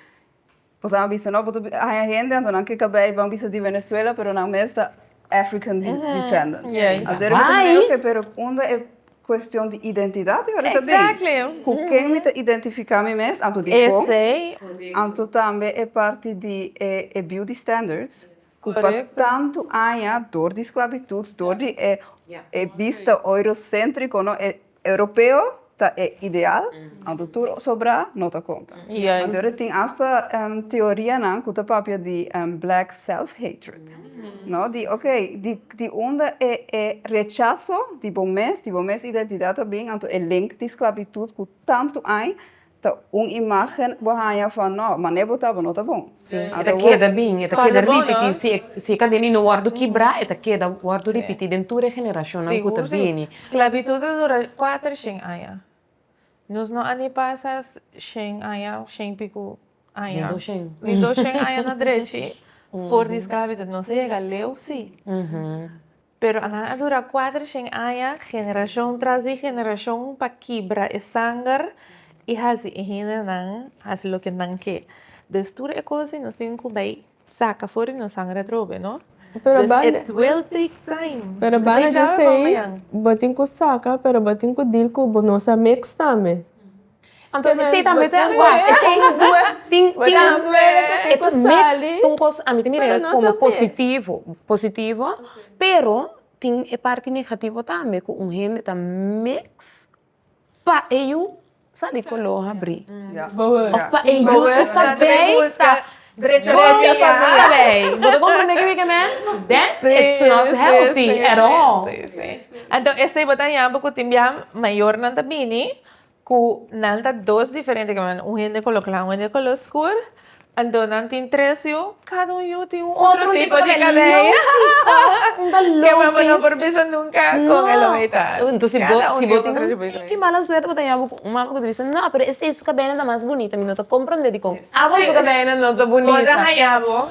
pues nan a bisa no bo ta haña hende anto nan ke kabia i ban bisa di Venezuela pero nan mes ta African descendant. Anto e ta bay. mira ok pero unda e cuestion di identidad di aworita bin? Exactly. Cu ken mi ta identifica mi mes anto di con? Esey. Anto tambe e parti di e beauty standards. cu pa tantu aña dor di sclabitud, dor di e e bista oirocentrico, no, e europeo ta e ideal, anto tur sobra no ta conta. Anto ora tin hasta teorianan cu ta papia di black self-hatred, no, di ok, di di unda e e rechaso di bo mes, di bo mes identidad ta bin, anto e link di sclabitud cu tantu añ Ta un imagen bo haña van no, mané bo taba no ta bon. Sí, e ta keda bin, e ta keda ripití. Si e, si e kadena i no wòrdu kibrá, e ta keda wòrdu ripití den tur e generashonnan ku ta bini. Sklabitut a dura kuater shen aña. Nos no a ni pasa shen aña, shen i piku aña. Ni doshen. Ni doshen aña na drechi for di sklabitut. Nos a yega leu, sí. Pero nan a dura kuatrushen aña, generashon tras di generashon, pa kibra e sanger i hasi e hendenan hasi loke nan ke. Des tur e kosnan nos tin ku bai saka for di nos sanger atrobe, no? Des it will take time. Pero banda dje esei, bo tin ku saka, pero bo tin ku dil ku bo nos ameks tambe. Anto esei tambe ta wak, esei tin tin mix un kos ami ta mira el komo positivo, positivo pero tin e parti negativo tambe ku un hende ta mix pa e yu sali kolo habri òf pa e yu su kabei bo ta komprende kibi ke me? Den its not healthy at all. Anto esei bo ta yama ku tin biaha mayornan ta bini. Ku nan ta dos diferente kaminda. Un hende kolor kla, un hende kolor skur. Anto nan tin tres yu, kada un yu tin un otro tipo di kabei. Ke bo no por bisa nunka kon e lo mei ta. Anto si bo si bo tin un piki mala suerte bo ta yama ku un mama ku ta bisa, no pero este su kabeinan ta mas bunita, mi no ta komprondé dikon abo su kabeinan no ta bunita. Bo ta haya bo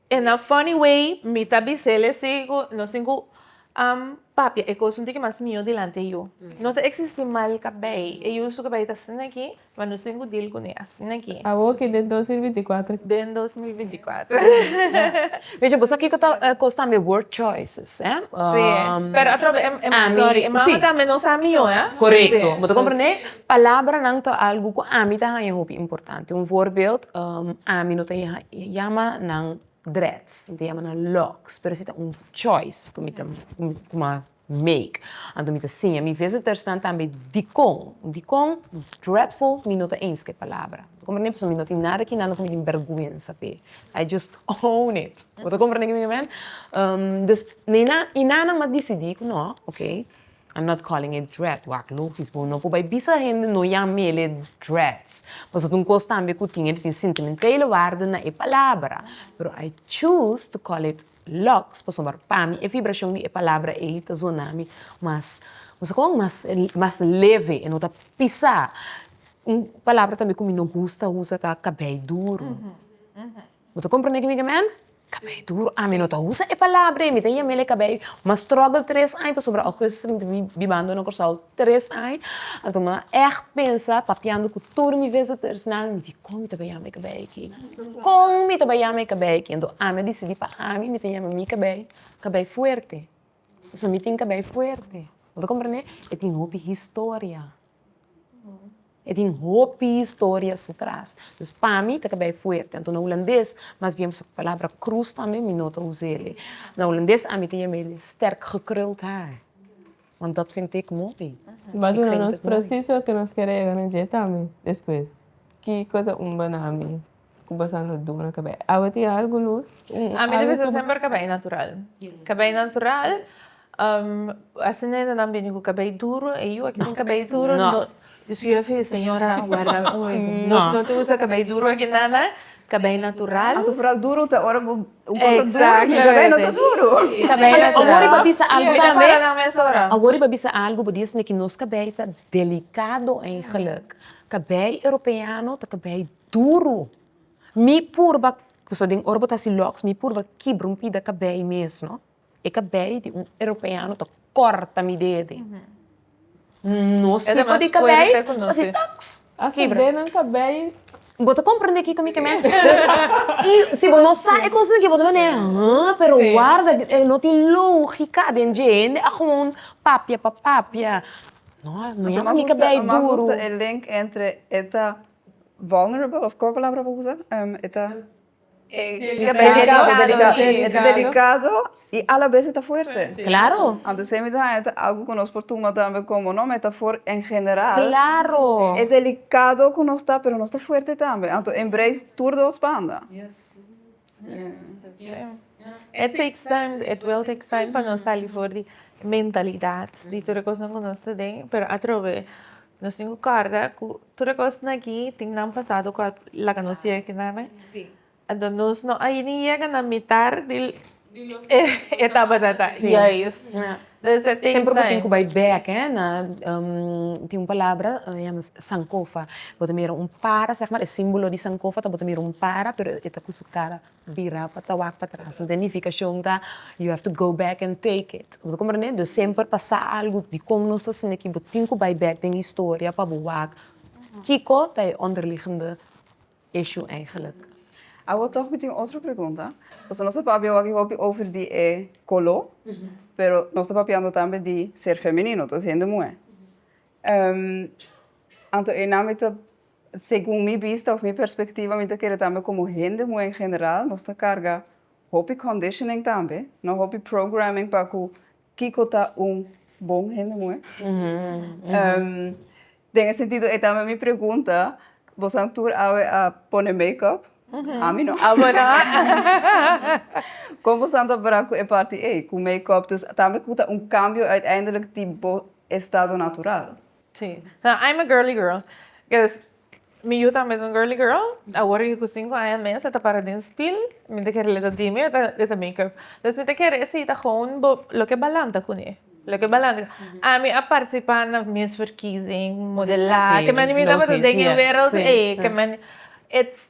En a funny way mi ta bisel esi ku nos tin ku papia e kos un tiki mas mihó dilanti e yu. No ta eksistí mal kabei. E yu su kabei ta asina aki, ma nos tin ku dil kuné asina aki. Awor ke den dos mil binti kuater. Den dos mil binti kuater. Mija bo sa kiko ta kos tambe word choices, eh. Sí, pero atrobe e mama, sorry, e mama tambe no sa mihó, eh. Korekto, bo ta komprendé? Palabranan ta algu ku ami ta haña hopi importante. Un voorbeeld, ami no ta yama nan dreads, mi ta yama nan locks, pero si ta un choice ku mi ta ku mi a make. Anto mi ta siña mi visitornan tambe dikon, dikon dreadful mi no ta ins ku e palabra. Mi ta komprende pasobra mi no tin nada kinan ku mi tin bèrgwensa p'e. I just own it, bo ta komprende kiko mi ta manda? Dus i nan mas disidí ku nò, ok. I'm not calling it dread wak logisch bo no por bai bisa hende no yami el'e dreads paso ta un cos tambe cu tin hende tin sentimental waarde na e palabra pero I choose to call it locks paso bar pami e vibracion di e palabra ey ta zonami mas bo sa con mas mas leve e no ta pisa un palabra tambe cu mi no gusta usa ta cabey duro. Bo ta komprende kimi ke men? Kabei duru, ami no ta usa e palabra ei, mi ta yam'el e kabei ma struggle tres aña pasobra oko esaki mi ta bibando na Kòrsou tres aña, anto mi a ègt pensa papiando ku tur mi vesitersnan dikon mi ta bay yama e kabei aki? Kon mi ta bay yama e kabei aki? Anto ami a disidí pa ami mi ta yama mi kabei kabei fuerte, pasobra mi tin kabei fuerte. Bo ta komprende? E tin hopi historia. E tin hopi historia su tras. Dus pa mi ta kaba e fuerte. Anto na hulandes mas bien pasobra palabra cruz tambe mi no ta usa ele. Na hulandes ami ta yama el sterk gekruld haar. Want dat vind ik mooi. Tabata unu nos presiso loke nos ke rega na dje tambe despues. Kiko ta umba na mi? ku basal lo duna kabei awe tin algu lus a mi ta bisa semper kabei natural kabei natural asi nena nan bini ku kabei duru ei yu aki tin kabei duru no su yu a fia señora guarda un nos no ta usa kabei duru aki nada kabei natural anto fural duru ta ora bo un poco duru mi kabei no ta duru kabei natural awor riba bisa algu tambe awor riba bisa algu bo dies ne ki nos kabei ta delikado en geluk kabei europeano ta kabei Duru! Mi purba, pasobra den ora bo ta hasi lòks mi purba kibra un pida kabei mes no, e kabei di un europeano ta kòrta mi dede, nos tipo di kabei ta hasi taks kibra. Bo ta komprende kiko mi ke menti? I si bo no sa e kosnan aki bo ta biba haa pero warda e no tin logika den dje hende a gewoon papia pa papia no a mi kabei duru. Vulnerable of kon palabra bo usa em e ta. E ta delikado i alabes e ta fuerte. Klaro. Anto semi ta haña ta algu ku nos por tuma tambe komo no me ta for en general. Klaro. E delikado ku nos ta pero nos ta fuerte tambe anto embrace tur dos banda. E takes time it will take time pa nos sali for di mentalidat di tur e kosnan ku nos ta den pero atrobe nos tin ku kòrda ku. Tur e cosnan aki tin nan pasado cu a laga nos yega nan ne. Anto nos no a ni yega na mitar di e tabanata. Juist. Entonces e tin. Semper bo tin cu bay bek eh na tin un palabra yama sankofa bo ta mira un para zeg maar e simbolo di sankofa ta bo ta mira un para pero e ta cu su cara. bira pa ta wak patras no ta nifikashon ta you have to go back and take it bo ta komprende? Dios semper ta sa algu di kon nos ta sinti aki bo tin ku bai bek den historia pa bo wak kiko ta e onderliggende issue eigenlik. Awor tog mi tin otro pregunta pasobra nos ta papia wak hopi over di e kolo pero nos ta papiando tambe di ser femenino nos hende muhé anto e nan mi ta Segun mi bista of mi perspectiva mi ta kere tambe como hende muhe en general nos ta carga hopi conditioning tambe, no hopi programming pa cu kico ta un bon hende muhe. Den e sentido e tambe mi pregunta, bosan tur awe a pone make up? Ami no. Abo no ha. Con bosan ta bra cu e parti ey, cu make up, dus tambe cu ta un cambio uiteindelijk di bo estado natural. Sí. So, I'm a girly girl. Cuz mi yu tambe ta un girly girl. Awor yu cu cinco aña mes, e ta para den spil, mi ta kere leta dimi, e ta leta make-up. Entonces mi ta kere si ta gewoon bo loke balanta cune. Loke balanta. Ami a participa na Miss Verkiezing, modela, ke manera mi tabata den e wereld ey. Ke manera, it's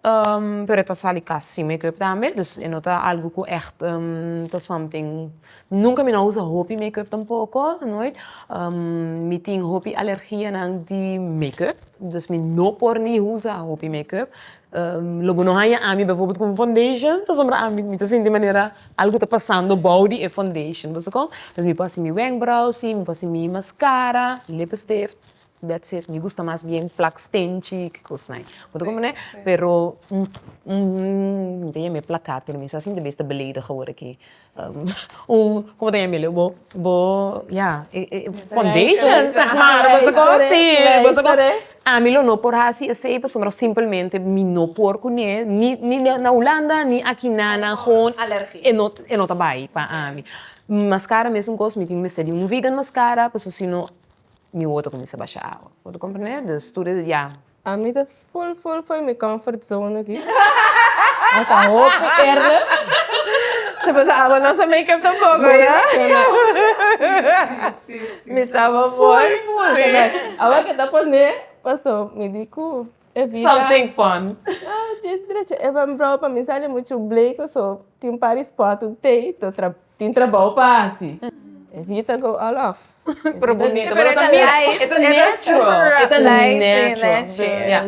pero e ta sali casi make up tambe dus e no ta algo cu echt ta something nunca mi no a usa hopi make up tampoco nooit mi tin hopi alergianan di make up dus mi no por ni usa hopi make up lo bo no haya ami bijvoorbeeld con foundation pasobra ami mi ta sinti manera algo ta pasando bou di e foundation boso con? Pues mi por haci mi wenkbrauw si mi por haci mi mascara lipstift That's it, mi gusta mas bien plak stenchi ki kosnan. Bo ta komprende? Pero mi ta yam'e plak kat pero mi sa sinti bes ta beledig awor aki. un komo ta yam'e leu bo bo ya e foundation sahamber bo ta komo si bo ta komo. Ami lo no por hasi esei pasobra simplemente mi no por kuné ni ni na hulanda ni aki nan nan gewoon e no e no ta bai pa ami. Maskara mesun kos mi tin mester di un vegan maskara pasobra si no Mi wou ta cuminsa basha awa. Bo ta comprende? Dus tur e ya. A mi ta full full fo'i mi comfort zone aki. Bo ta hopi early. Ta pensa awa no sa make up tampoco, ya? Mi staba full full ta bay. Awa ke ta pone paso mi di cu Evita. Something fun. Dje drecha e ban brou pa mi sali muchu bleko so tin un par di spot un tay to tra. Tin trabou pa hasi. E vita go all off. Pero bunito, pero ta mira, it's a natural, it's a natural thing, ya.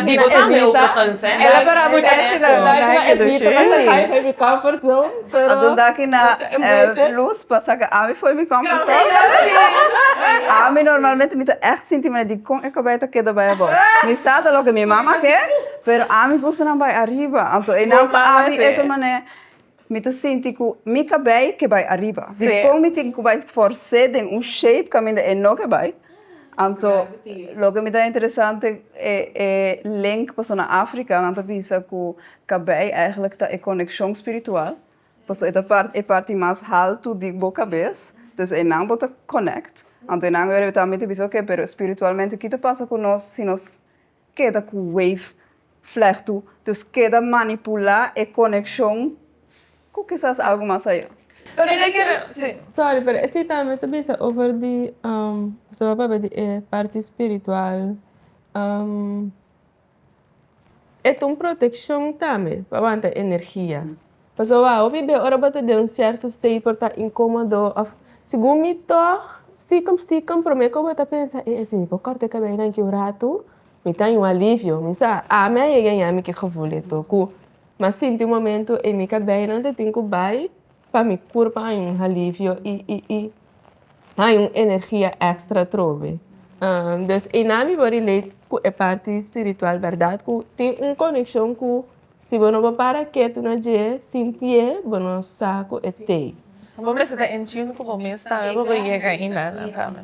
Di bo tambe e otro conseho? Ela por a mucha shi ta un daki na evita pa saca e fo mi comfort zone, pero. A dun daki na luz pa saca ami fo mi comfort zone. Ami normalmente mi ta echt sinti manera di con e cabai ta keda bai abao. Mi sa ta loke mi mama ke, pero ami gusta nan bai ariba, anto e nan pa ami e ta manera. Mi ta sinti ku mi kabei ke bai ariba. Si kon mi tin ku bai fors'é den un shape kaminda e no ke bai, anto loke mi ta interesante e e link paso na Afrika nan ta bisa ku kabei eigenlijk ta e konekshon spiritual, paso e ta part e parti mas haltu di bo kabes, dus e nan bo ta connect, anto e nan yora ta miti bisa oke pero spiritualmente ki ta pasa ku nos si nos keda ku wave flèhtu, dus keda manipulá e konekshon ku kisas algu mas ayá. Pero yo quiero, sí. Sorry, pero esei tambe ta bisa over di, pasobra bo a papia di e parti spiritual, e ta un protekshon tambe pa wanta energia. Pasobra a hopi b'e ora bo ta den un sierto state por ta incomodo of segun mi tog stikum stikum prome cu bo ta pensa e si mi por corta e cabello nan ki un rato mi ta haña un alivio mi sa ami a yega haña mi ki gevoel e to cu m'a sinti un momento e mi cabello nan ta tin cu bay pa mi curp a haña un alivio y y y haña un energia extra atrobe dus e nan mi por relate cu e parti spiritual berdad cu tin un coneccion cu. Si bo no bo para ketu na dje, sin tié bo no sa ku e tei. Bo mester ta enciundo ku bo mes tambe pa bo yega aina nan tambe.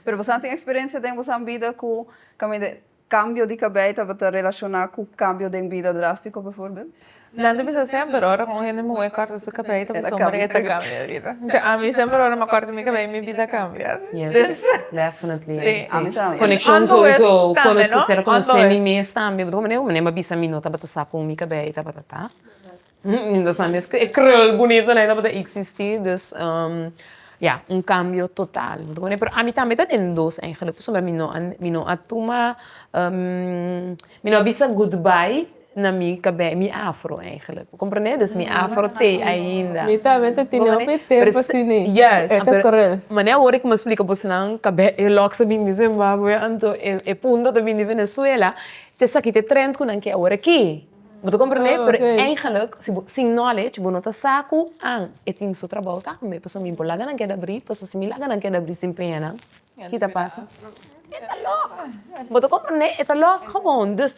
Pero boso a tin experencia den boso bida ku kaminda cambio di cabei tabata relaciona ku cambio den bida drastico bijvoorbeeld? Nan ta bisa semper ora ku un hende muhé corta su cabei ta pasobra e ta cambia bida. Ami semper ora mi a corta mi cabei mi bida a cambia. Definitely si konekshon souiso kono ta ser konosé mi mes tambe bo ta wak manera ku mi tabata bisa mi no tabata sa kon mi kabei tabata ta mi ta sa mes ku e krul bunito no tabata eksisti dus ya un kambio total bo ta wak manera pero ami tambe ta den dos engeluk pasobra mi no a tuma mi no a bisa gudbai Na mi kabé, mi afro eigenlijk. Bo komprendé? Dus mi afro te ainda. Mi tambe ta tene hopi tempu sini. Yes. E ta krul. Manera word ku mi a splika bosnan, kabé e lòks a bini Zimbabwe, anto e punta ta bini Venezuela. Te esaki ta e trend ku nan ke awor aki. Bo ta komprendé? Pero eigenlijk, si bo sin knowledge, bo no ta sa ku an e tin su trabou tambe. Pasobra mi por laga nan keda abrí, pasobra si mi laga nan keda abrí sin peña nan, ke ta pasa? E ta lòk. Bo ta komprendé? E ta lòk. Gewoon. Dus,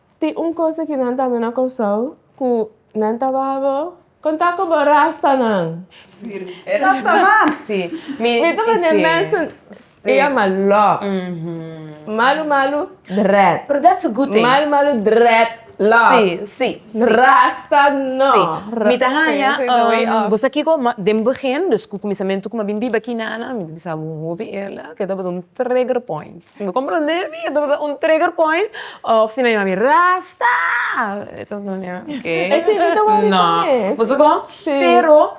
Tin un cosa ki nan ta haber na Corsou cu nan ta baha bo. Con ta cu bo rastanan. E rastaman. Si mi ta bati den mensen mi yama locks malu malu dread. Pero that's a good thing. Malu malu dread locks. Si si rasta no. Si mi ta haya bo sa kiko den begin cu cuminsamentu cu mi a bin biba aki nana mi ta bisa bo un hopi eerlijk e tabata un trigger point. Bo komprondé mi? E ta tabata un trigger point òf si nan yama mi rasta. E ta tabata nan yama ke? E si mi ta wak di pa mi. Bo sa kon? Si. Pero,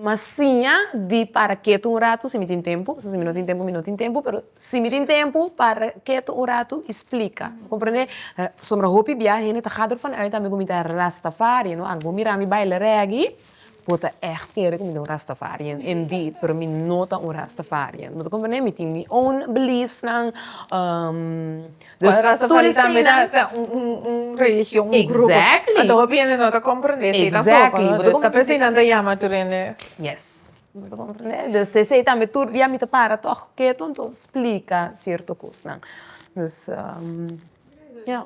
m'a siña di para ketu un ratu si mi tin tempu. Si mi no tin tempu, mi no tin tempu. Pero si mi tin tempu, para ketu un ratu i splika. Bo komprondé? Asombra hopi bia hende ta hadr van uit ami ku mi ta rastafari, no? Agan bo mira mi baila règhi. Bo ta ègt kere ku mi ta un Rastafarian indeed, pero mi no ta un Rastafarian. Bo ta komprende? Mi tin mi own beliefsnan. Ora Rastafari tambe ta ta un religion, un grupo. Exactly. Anto hopi hende no ta komprende esei tampoco. Exactly. Bo ta komprende? Esaki esei nan ta yama tur hende. Yes. Bo ta komprende? Dus ta esei tambe tur dia mi ta para tòg ketu anto splika sierto kosnan. Dus, ya.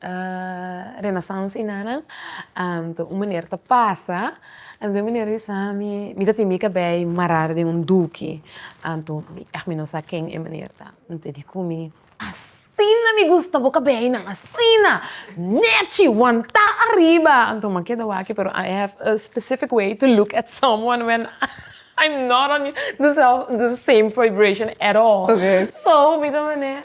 Renaissance enanan anto un meneer ta pasa anto e meneer bisa ami mi ta tin mi kabei marare den un duki anto mi echt mi no sa ken e meneer ta anto e di ku mi asina mi gusta bo kabei nan asina nechi wanta ariba anto mi a keda waki pero I have a specific way to look at someone when I'm not on the same vibration at all so mi ta mane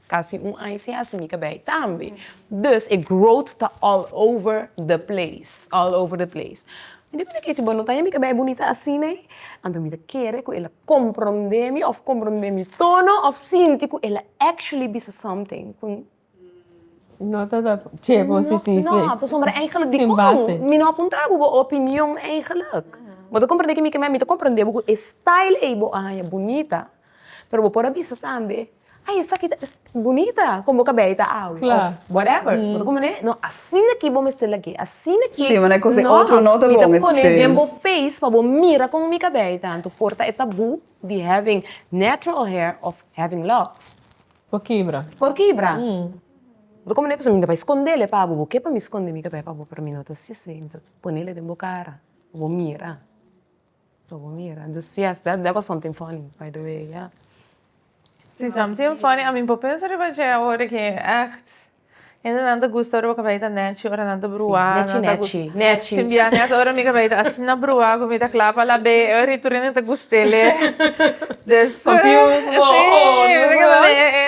Kasi un aña sin hasi mi kabei tambe. Dus e growth ta all over the place, all over the place. Anto mi ta kisi, bo no ta haya mi kabei bunita asina ei? Anto mi ta kere ku el a kompronde mi òf kompronde mi tono òf sinti ku el a actually bisa something ku no ta da tjie positif ei. No, pasobra eigenlik dikon mi no a puntra bo bo opinion eigenlik? Bo ta kompronde ke mi ke mi ta kompronde bo ku e style ei bo a haña bunita Pero bo por a bisa tambe, Ai esaki ta bunita kon bo kabei ta awe. Kla. Of whatever. Bo ta kumane, no, asina ki bo mester lag'é, asina ki. Sí, maná kos e otro no ta bon. Mi ta pone den bo feys pa bo mira kon mi kabei ta. Anto por ta e tabú di having natural hair of having locks. Por kibra. Por kibra. Bo ta kumane, pasobra mi ta bai skondele pa bo, bo ke pa mi skonde mi kabei pa bo, pero mi no ta hasi así, mi ta ponele den bo kara pa bo mira. Ta bon mira entusias dat dat was something funny by the way ya. Si something funny a mi por pensa riba dje ora ke echt hendenan ta gusta ora bo kabay ta nechi ora nan ta brua nan ta gusta nechi nechi nechi sin bia net ora mi kabay ta asina brua ku mi ta kla pa la be ora y tur hende ta gustele des confuse bo oh mi ta kebal e e.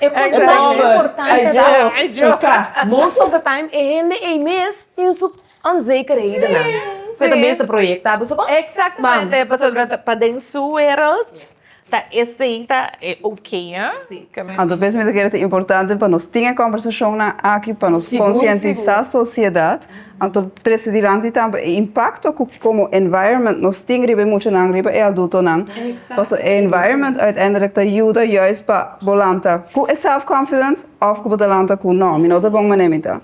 E cos mas importante ta nica. Most of the time e hende ey mes tin su onzekerhedennan cu e ta bezig ta proyecta boso con. Exactamente, pasobra nan ta paden su wereld, ta esey ta e okeyo. Anto pensa mi ta kere ta importante pa nos tin e combersacionnan aki pa nos concientisa sociedad. Anto trese dilanti tambe e impakto ku komo environment nos tin riba e muchanan, riba e adultonan. Pasobra e environment uiteindelik ta yuda yùis pa bo lanta ku e self confidence òf ku bo ta lanta ku no, mi no ta bon mané mi ta.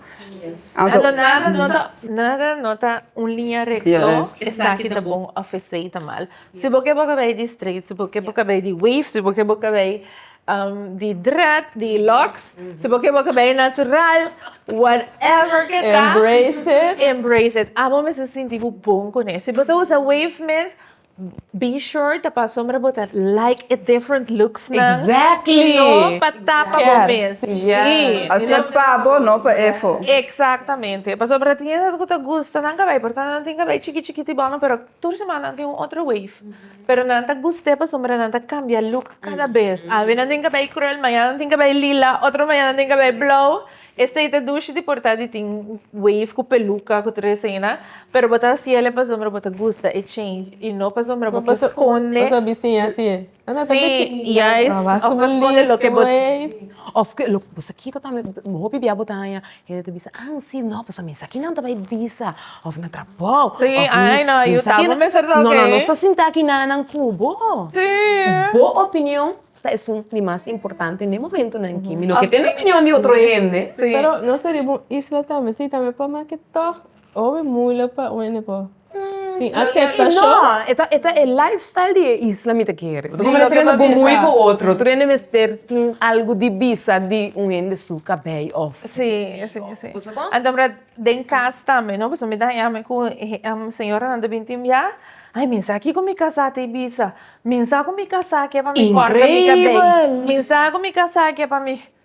Anto. Anto nada no ta, nada no ta un liña rekto, esaki ta bon òf esei ta mal. Si bo ke bo ka bai di straight, si bo ke bo ka bai di wave, si bo ke bo ka bai. um, di dread, di locks. So porque boca bay natural, whatever que ta. Embrace it. Embrace it. Amo me se sinti ku bon con e. Si bo ta usa wave mens, be sure ta pa sombra bo ta like e different looks na. Exactly. No pa tapa bo Care. mens. Sí. Yes. A ser pa bo, no pa e fo. Exactamente. Pasobra tin esnan ku ta gusta, nan ka bay, pero ta nan tin ka bay chiki chiki ti bono, pero tur semana nan tin un otro wave. Pero nan ta gust'é pasobra nan ta kambia luk kada bes. Awe nan tin kabei krul, mañana nan tin kabei lila, otro mañana nan tin kabei blou. Esei ta dushi di por ta di tin wave ku peluka ku tur esei nan, pero bo ta hasi el e pasobra bo ta gusta e change i no pasobra bo ke skonde. Bo ta bisi hasi e. Si, yes, òf pa skonde loke bo. Òf ke lo ku bo sa kiko tambe, hopi bia bo ta haña Hende ta bisa, ah, si no, pasobra mi sa kinan ta bai bisa, of na trabou, of mi, mi sa kinan. Sí, io tambe mester ta oké. No, nos ta sinta aki na nan ku bo. Sí. Bo opinion ta esun di mas importante n'e momentunan aki. Mi no ke tende opinion di otro hende. Sí. Pero nos ta riba un isla tambe, sí, tambe pa make tòg. Obe moeilijk pa un eneko tin aceptacion. No, e ta e ta e lifestyle di e isla mi ta kere. Pasobra mi ta trende bo muy ku otro, trende mester tin algo di bisa di un hende su kabei of. Si, si, si. Ku sukon? Anto mira den kas tambe no, pasobra mi ta haña ami ku señoranan ta bin tin bia, ai mi sa kiko mi kasa ta e bisa, mi sa ku mi kasa ke pa mi kòrta mi kabei, mi sa ku mi kasa ke pa mi.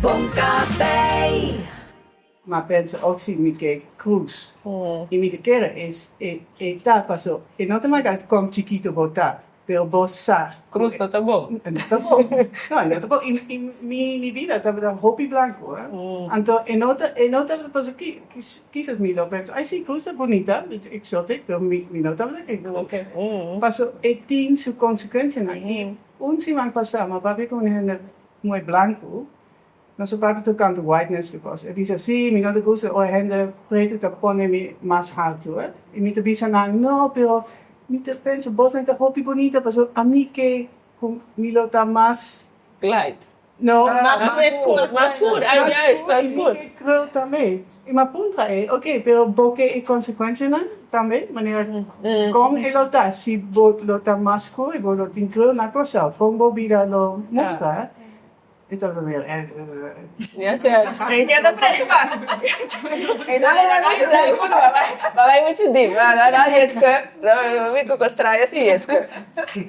Bon Café. Ma pensa oc si mi ke cruz. Y mi ta kere e ta, paso e no ta marca con chikito bo ta, pero bo sa cu e. Cruz no ta bo. No ta bo. No, e no ta bo. Y mi bida tabata hopi blanco, eh. Anto e no ta, e no ta, paso ki, kisas mi lo pensa, ay si, cruz ta bunita, exotic, pero mi no tabata ke cruz. Paso e tin su consecuencianan. Y un siman pasa mi a papia cu un hende Como e blanco, nos a papia tur kantu whiteness di kos. E bisa si, mi no ta gusta ora hende pretu ta pone mi mas haltu. I mi ta bisa nan, no, pero mi ta pensa bosnan ta hopi bunita, paso ami ke ku mi lo ta mas, Light. no, mas, mas hur, mas hur, i mi ke krul tambe. I ma puntra e, Ok, pero bo ke e konsekuensianan tambe? Manera kon e lo ta si bo lo ta mas ku i bo lo tin klur na kos sèlf? Kon bo bida lo mustra? E tabata mira e, Ëh.